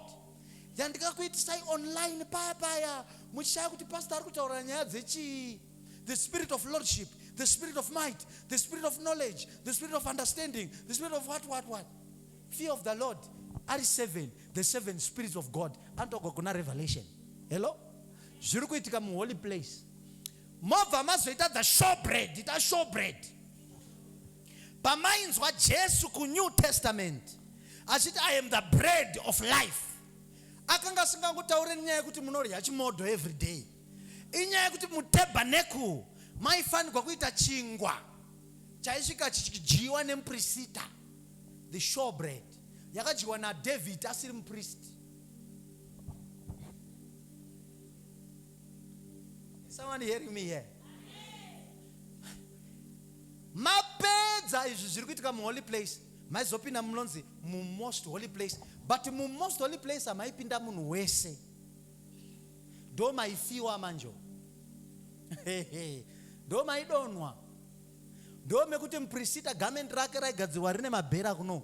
yandikakuitisai online paya paya muchishaya kuti pastor ari kutaura nyaya dzechii the spirit of lordship the spirit of might the spirit of knowledge the spirit of understanding the spirit of what what what fear of the lord ari seven the seven spirits of god anotogwa kuna revelation hello zviri kuitika muholy place mobva mazoita the show bread ita show bread Pamainzwa Jesu kuNew Testament achiti I am the bread of life, akanga asingangotaure nyaya yekuti munorya chimodho every day. Inyaya yekuti mutabernakle maifanirwa kuita chingwa chaisvika chichidyiwa nemuprisita, the sure bread yakadyiwa naDavid asiri mupristi. Someone hearing me here? Mapedza izvi zviri kuitika muholy place maizopinda munonzi mumost holy place but mumost holy place hamaipinda munhu wese ndo maifiwa manjo ndo maidonwa ndo mekuti muprisita gamendi rake raigadzirwa rine mabhera kuno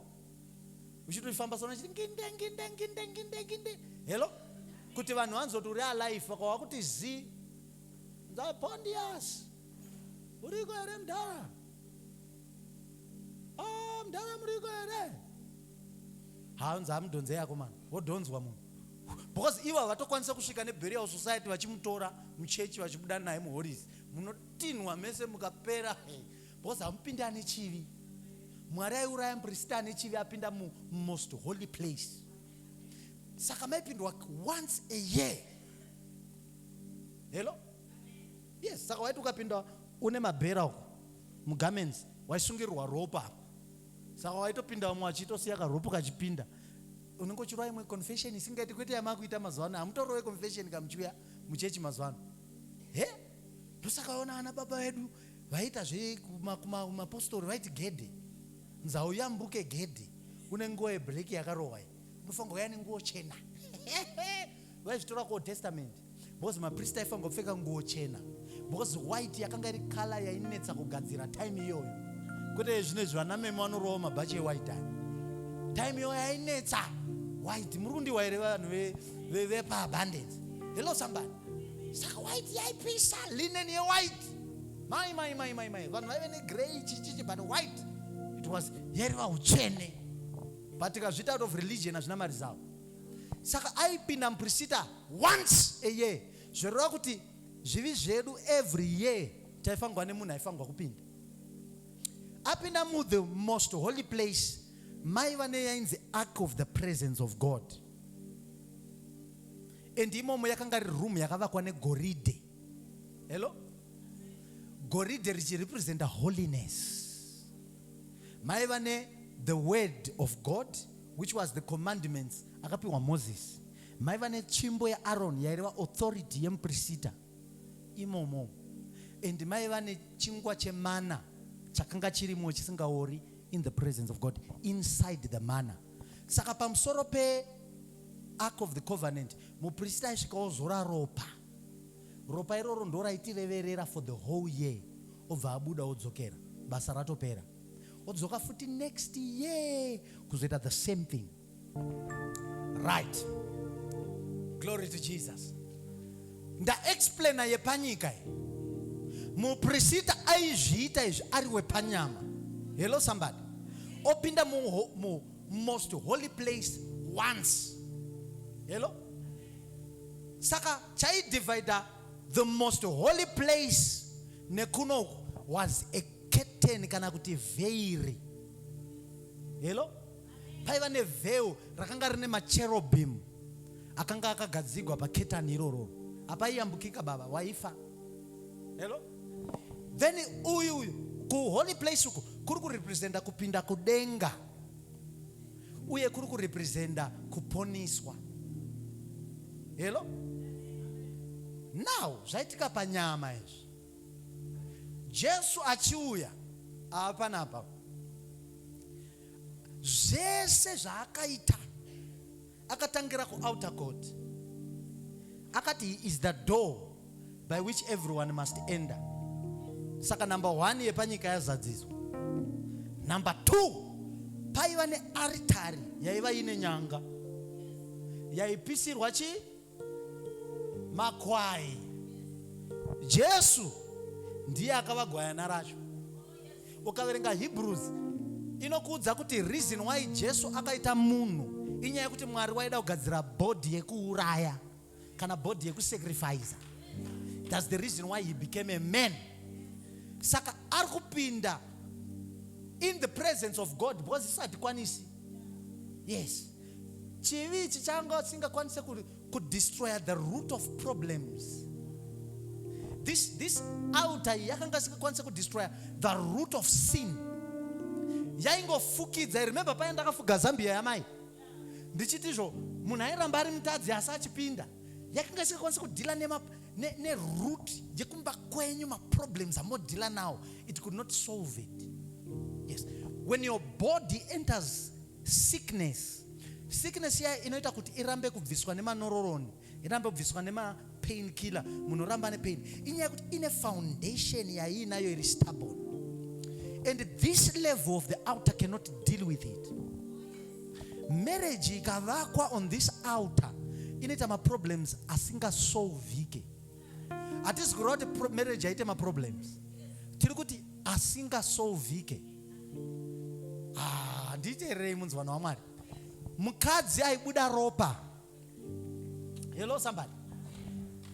uchitofamba sona chiti nginde nginde nginde nginde nginde hello kuti vanhu vanzi kuti uri alive vakawa kuti zi ndzapondias uriko here mdhara o oh, mdhara muriko here hanzi hamudhonze yako mani wodhonzwa munhu because ivo havatokwanisa kusvika neburial society vachimutora muchechi vachibuda naye muhoris munotinhwa mese mukapera because hamupinde ane chivi mwari aiuraya muprista ane chivi apinda mumost holy place saka maipindwa once a year hello yes saka waiti ukapinda une mabhera uko mugarments waisungirirwa ropa apa saka waitopinda vamwe vachitosiya karopo kachipinda unenge uchirova imwe confession isingaiti kwete yamakuita mazuva ano hamutorove confession kamuchiuya muchechi mazuva ano he ndosaka vaona ana baba vedu vaita zvemapostori vaiti gedhe nzau yambuke gedhe kune nguva yebreak yakarohwa unofanirwa kuya nenguo chena vaizvitora kuold testament because maprista aifanirwa kupfeka nguo chena because white yakanga iri kala yainetsa kugadzira time iyoyo kwete zvino izvi vanameme vanorowa mabhachi ewhite aya time iyoyo yainetsa white muri kundiwa here vanhu vepaabundance hello somebody saka white yaipisa linen yewhite mai mai mai mai mai vanhu vaive negrey chichichi but white it was yeriva utsvene but ikazviita out of religion hazvina mari zavo saka aipinda muprisita once a year zvoreva kuti zvivi zvedu every year taifangwa nemunhu aifangwa kupinda apinda mu the most holy place mai vane yainzi ark of the presence of god and imomo yakanga ri room yakavakwa negoridhe Hello? Goridhe richirepresenta holiness. Maiva ne the word of God which was the commandments akapiwa Moses. Maiva netsvimbo yaAron yaireva authority yemuprisita imomo. And maiva nechingwa chemana chakanga chirimo chisingaori in the presence of God inside the manna. Saka pamusoro pe Ark of the Covenant, muprista aisvika ozora ropa. Ropa iroro ndoraitireverera for the whole year obva abuda odzokera basa ratopera odzoka futi next year kuzoita the same thing right glory to jesus ndaexplaina yepanyika muprisita aizviita izvi ari wepanyama hello somebody opinda mu, mu most holy place once hello saka chaidivider the most holy place nekunoku was a curtain kana kuti vheiri hello paiva nevheu rakanga rine macherobim akanga akagadzigwa paketani irororo apaiyambukika baba waifa hello then uyu uyu kuholy place uku kuri kurepresenta kupinda kudenga uye kuri kurepresenta kuponiswa helo now zvaitika panyama izvi jesu achiuya ava panapa zvese zvaakaita Akatangira ku outer court. Akati he is the door by which everyone must enter. Saka number one yepanyika yazadziswa. Number two paiva nearitari yaiva ine nyanga yaipisirwa chi makwai jesu ndiye akava gwayana racho ukaverenga hebrews inokuudza kuti reason why jesu akaita munhu inyaya yekuti mwari waida kugadzira bhodhi yekuuraya kana bhodhi yekusacrifica thats the reason why he became a man saka ari kupinda in the presence of god because isingatikwanisi yes chivi ichi changa chisingakwanise kudestroya the root of problems this, this altar yakanga isikakwanisa kudestroya the root of sin yaingofukidza remember paya ndakafuga zambia yamai ndichiti izvo munhu airamba ari mutadzi asi achipinda yakanga isikakwanisa kudhila neroot ne, ne yekumba kwenyu maproblems amodhila now it could not solve it yes when your body enters sickness sickness iya inoita kuti irambe kubviswa nemanororoni irambe kubviswa nemapain killer munhu oramba ane pain inyaya yekuti ine foundation yaiinayo iri stubborn and this level of the outer cannot deal with it marriage ikavakwa on this outer inoita maproblems asingasolvike hatisi kureva kuti marriage haite maproblems tiri kuti asingasolvike Ah, nditeererei munzi vanhu wamwari mukadzi aibuda ropa hello somebody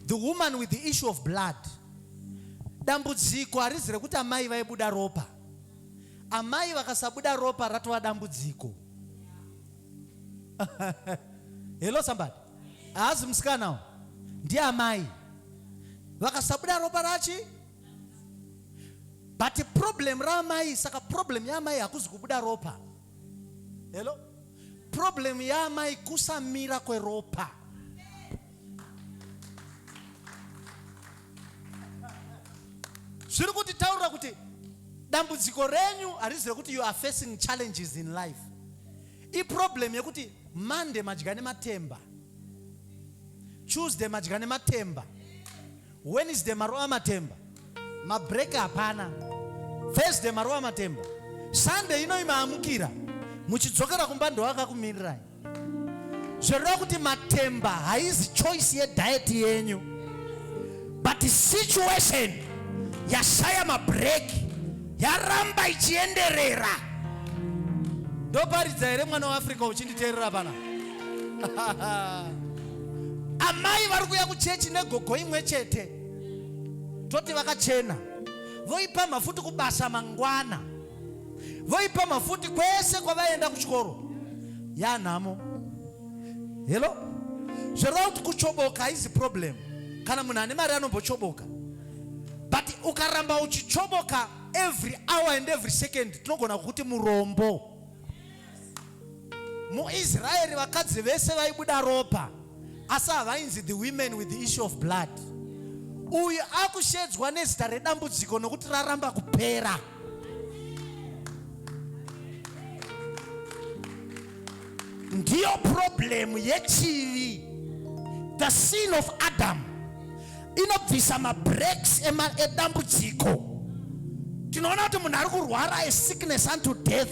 the woman with the issue of blood dambudziko harizi rekuti amai vaibuda ropa amai vakasabuda ropa ratova dambudziko hello somebody haazi musikana ndiye amai vakasabuda ropa rachi but problem raamai saka problem yaamai hakuzi kubuda ropa hello problem yaamai kusamira kweropa zviri kuti taura kuti dambudziko renyu harizi rekuti you are facing challenges in life iproblem yekuti monday madya nematemba tuesday madya nematemba Wednesday marova matemba, mabreak hapana. Thursday marova matemba, Sunday ino imaamukira muchidzokera kumba ndoakakumirirai. Zvoreva kuti matemba haizi choice yediet yenyu but situation yashaya mabreak yaramba ichienderera. Ndoparidza here mwana weAfrica uchinditeerera pana? amai vari kuuya kuchechi negogo imwe chete toti vakachena voipa mafuti kubasa mangwana voipa mafuti kwese kwavaenda kuchikoro yanhamo helo zvoreva kuti kuchoboka haizi problem kana munhu ane mari anombochoboka but ukaramba uchichoboka every hour and every second tinogona kukuti murombo muisraeri vakadzi vese vaibuda ropa asi havainzi the women with the issue of blood uyu akushedzwa nezita redambudziko nokuti raramba kupera ndiyo problemu yechivi the sin of adam inobvisa mabreaks edambudziko tinoona kuti munhu ari kurwara a sickness unto death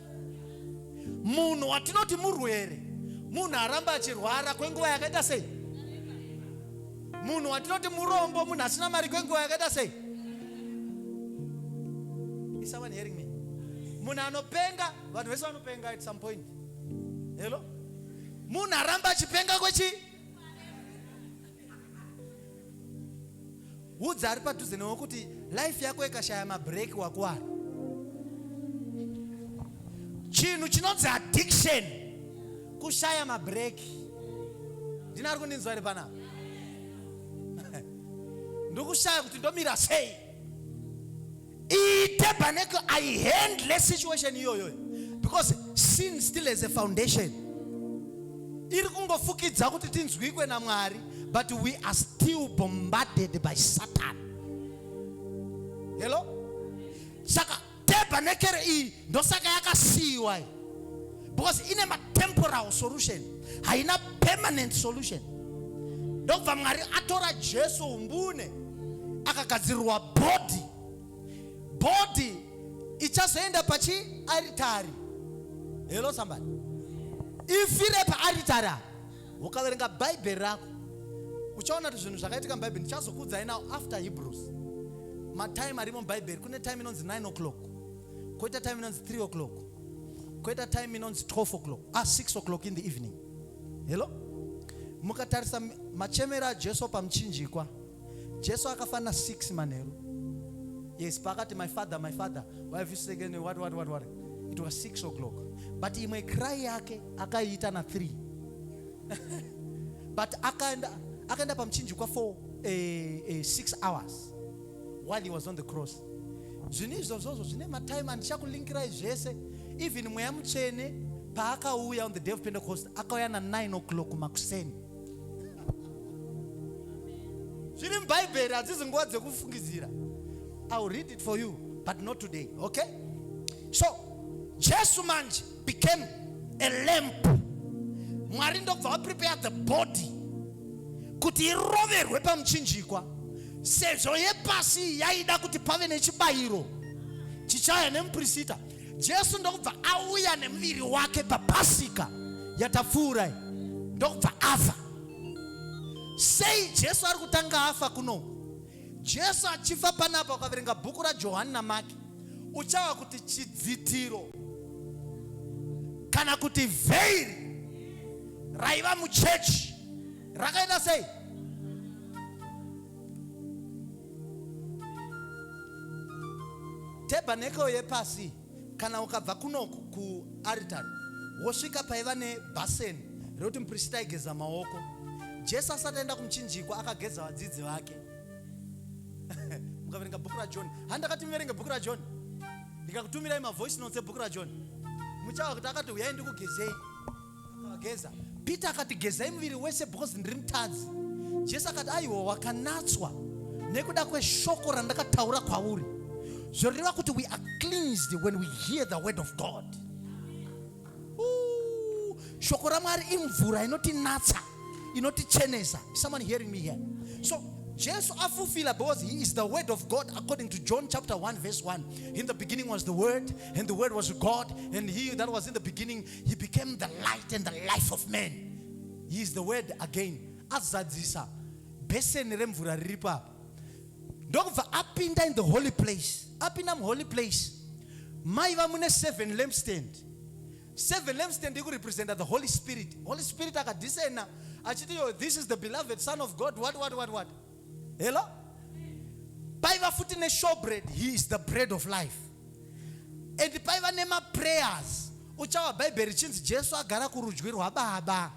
munhu watinoti murwere munhu aramba achirwara kwenguva yakaita sei munhu watinoti murombo munhu asina mari kwenguva yakaita sei isaone hearing me munhu anopenga vanhu vese vanopenga at some point helo munhu aramba achipenga kwechi Udza ari padhuze newe kuti life yako ikashaya mabreak wakuwara. Chinhu chinonzi addiction kushaya mabreak. Ndina ari kundinzwa iri panapa. Ndokushaya kuti ndomira sei. iite pane ku i handle situation iyoyo because sin still has a foundation iri kungofukidza kuti tinzwikwe namwari but we are still bombarded by satan hello saka tebhanekere iyi ndosaka yakasiyiwa iyi because ine matemporal solution haina permanent solution ndokubva mwari atora jesu umbune akagadzirirwa body body ichazoenda pachi aritari hello somebody ifire paaritari apa ukaverenga bhaibheri rako uchaona kuti zvinhu zvakaitika mubhaibheri ndichazokuudzai now after hebrews matime arimo mubhaibheri kune time inonzi 9 o'clock koita time inonzi 3 o'clock koita time inonzi 12 o'clock a ah, 6 o'clock in the evening hello mukatarisa machemero ajesu pamuchinjikwa jesu akafanira 6 manheru yes paakati my father my father why have you second what what what what it was 6 o'clock but imwe cry yake akaiita na 3 but akaenda akaenda pamuchinjikwa for eh, eh, 6 hours while he was on the cross zvinhu izvozvozvo zvine matime andichakulinkirai zvese even mweya mutsvene paakauya on the day of pentecost akauya na9 o'clock makuseni zviri mubhaibheri hadzizi nguva dzekufungidzira iwill read it for you but not today okay so jesu manje became a lamp mwari ndobva vaprepare the body kuti iroverwe pamuchinjikwa sezvo yepasi yaida kuti pave nechibayiro chichaya nemuprisita jesu ndokubva auya nemuviri wake papasika yatapfuurai ndokubva afa sei jesu ari kutanga afa kuno Jesu achifa panapa, ukaverenga bhuku raJohani naMaki, uchawa kuti chidzitiro kana kuti vheiri raiva muchechi rakaita sei? Tebhanekeo yepasi Kana ukabva kunoku kuaritari wosvika paiva nebhaseni rekuti muprista aigeza maoko. Jesu asati aenda kumuchinjikwa akageza vadzidzi vake. Mukaverenga bhuku raJohn, ha ndakati muverenge bhuku raJohn, ndikakutumirai mavoice notes ebhuku raJohn, muchava kuti akati huyai ndikugezei. Geza. Peter akati gezai muviri wese because ndiri mutadzi. Jesu akati aiwa wakanatswa nekuda kweshoko randakataura kwauri. Zvoreva kuti we are cleansed when we hear the word of God. Ooh, shoko raMwari imvura inotinatsa, inotichenesa. Someone hearing me here? So Jesu afulfila because he is the word of God according to John chapter 1 verse 1. In the beginning was the word and the word was God and he that was in the beginning He became the light and the life of man. He is the word again. Azadzisa beseni remvura riri papa ndokubva apinda in the holy place apinda muholy place maiva mune seven lampstand seven lampstand ikurepresenta the holy spirit holy spirit akadisena achiti yo this is the beloved son of god what what what what hello paiva futi neshowbread he is the bread of life and paiva nemaprayers uchawa bhaibheri chinzi jesu agara kurudyi rwababa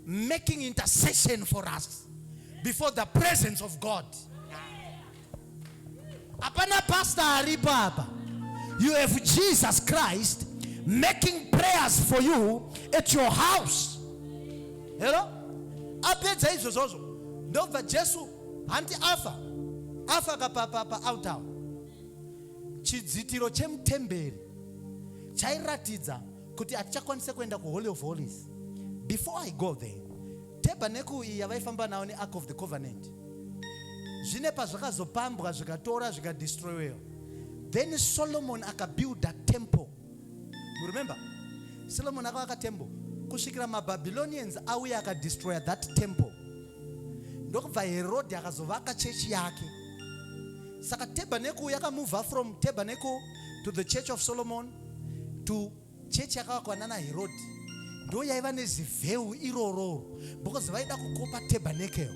making intercession for us before the presence of god hapana pastor aripo apa you have jesus christ making prayers for you at your house Hello? Apedza izvo zvozvo ndobva Jesu hanti afa afa kapapapa autawa chidzitiro chemutemberi chairatidza kuti hatichakwanise kuenda kuholy of holies before i go there tebhaneku iyi yavaifamba nawo neark of the covenant zvine pazvakazopambwa zvikatora zvikadestroyewa then solomon akabuilda temple You remember? Solomon akavaka temple kusvikira maBabylonians auya akadestroya that temple ndokubva Herode akazovaka chechi yake. Saka tabernacle yakamova from tabernacle to the church of Solomon to chechi yakavakwa nana Herode ndo yaiva nezivheu irororo because vaida kukopa tabernacle.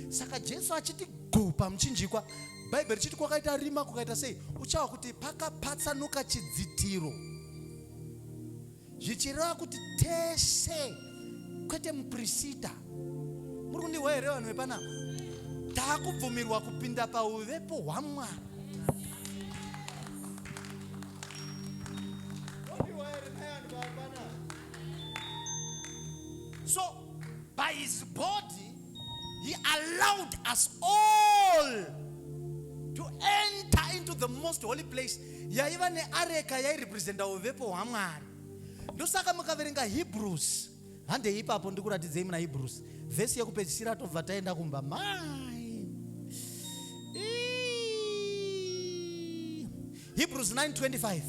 Saka Jesu achiti guu pamuchinjikwa bhaibheri chiti kwakaita rima kukaita sei uchawa kuti pakapatsanuka chidzitiro zvichireva kuti tese kwete muprisita muri kundihwa here vanhu vepanapa takubvumirwa kupinda pauvepo hwamwari so by his body He allowed us all to enter into the most holy place yaiva neareka yairepresenta uvepo hwamwari ndosaka mukaverenga hebrews handei ipapo ndikuratidzei muna hebrews vhesi yekupedzisira tobva taenda kumba mai hebrews 925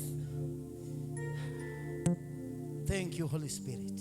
thank you holy spirit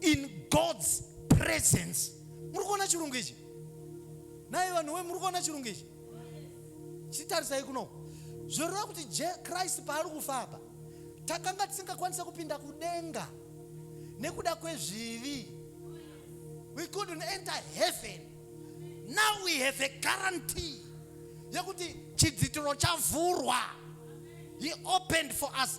in God's presence. Muri kuona chirungu ichi? Naye vanhu we muri kuona chirungu ichi? Chitarisai kuno. Zvoreva kuti Christ paari kufa apa takanga tisingakwanisa kupinda kudenga nekuda kwezvivi. We couldn't enter heaven. Now we have a guarantee yekuti chidzitiro chavhurwa. He opened for us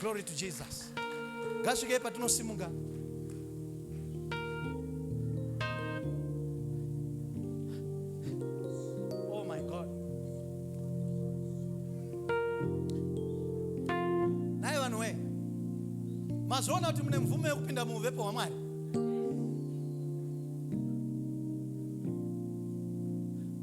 Glory to Jesus. Ngasvike patinosimuka. Oh my God. Naye vanhu we. Mazviona kuti mune mvumo yekupinda muuvepo hwaMwari.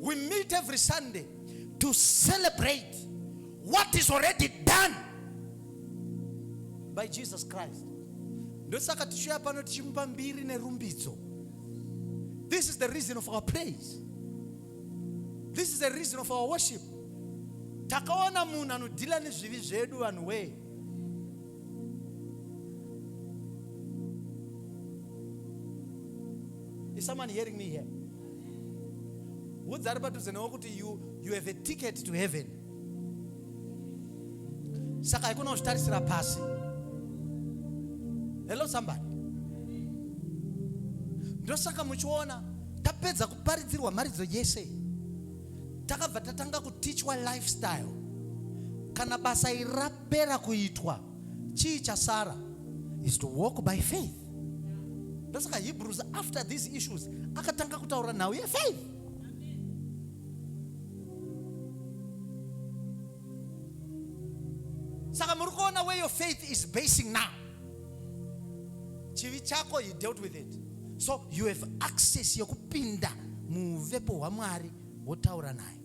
We meet every Sunday to celebrate what is already done by Jesus Christ. Ndosaka tichiuya pano tichimupa mbiri nerumbidzo. This is the reason of our praise. This is the reason of our worship. Takaona munhu anodhila nezvivi zvedu vanhu wee. Is someone hearing me here? Udza ari padhuze newe kuti you, you have a ticket to heaven. Saka haikona kuzvitarisira pasi. Hello somebody. Ndosaka muchiona tapedza kuparidzirwa mharidzo yese takabva tatanga kutichwa lifestyle kana basa iri rapera kuitwa chii chasara is to walk by faith ndosaka hebrews after these issues akatanga kutaura nhau yefaith saka muri kuona where your faith is basing now chivi chako he dealt with it so you have access yekupinda muuvepo hwamwari wotaura naye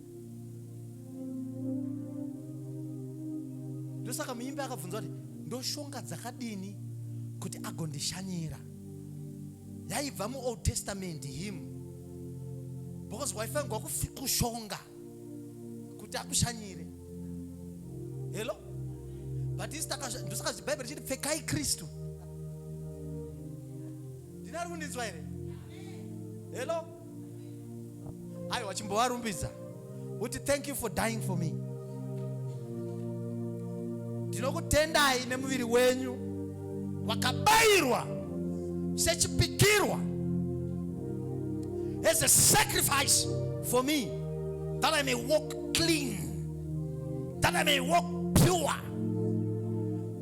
ndosaka muimbi akabvunza kuti ndoshonga dzakadini kuti agondishanyira yaibva muold testament him because waifanirwa kushonga kuti akushanyire hello but isi ndosaka bhaibheri chiti pfekai kristu ndinari kundinzwa here hello ayo wachimbovarumbidza uti thank you for dying for me ndinokutendai nemuviri wenyu wakabayirwa sechipikirwa as a sacrifice for me that i may walk clean that i may walk pure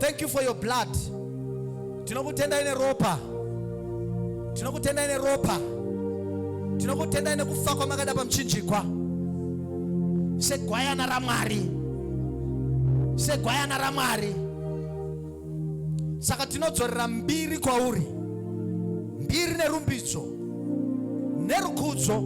Thank you for your blood. Tinokutenda ine ropa. Tinokutenda ine ropa. Tinokutenda ine kufa kwamakada pamuchinjikwa. Segwayana raMwari. Segwayana raMwari. Saka tinodzorera mbiri kwauri. Mbiri nerumbidzo. Nerukudzo.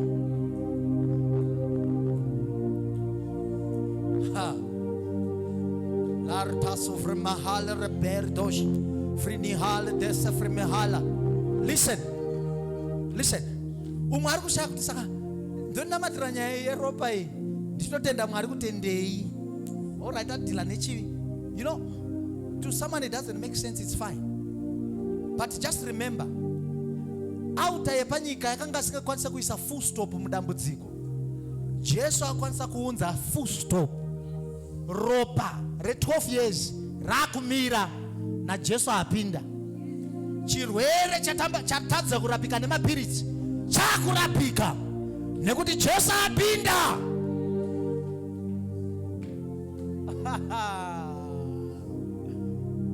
Listen, listen. Umwe ari kushaya kuti saka ndoninamatira nyaya yeropa iyi ndinotenda mwari kutendei orit adhila nechivi you know to someone it doesn't make sense it's fine but just remember auta yepanyika yakanga asingakwanisa kuisa full stop mudambudziko jesu akwanisa kuunza full stop ropa re12 years rakumira najesu apinda chirwere chatadza kurapika nemapiritsi chakurapika nekuti jesu apinda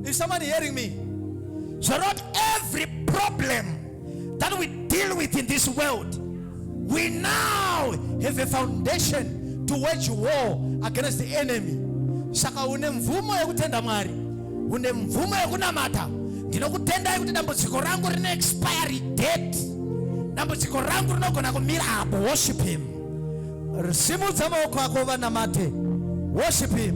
is someone hearing me so not every problem that we deal with in this world, we now have a foundation to wage war against the enemy. Saka une mvumo yekutenda Mwari, une mvumo yekunamata. Ndinokutendai kuti dambudziko rangu rine expiry date. Dambudziko rangu rinogona kumira apo. Worship him. Simudza maoko ako vanamate. Worship him.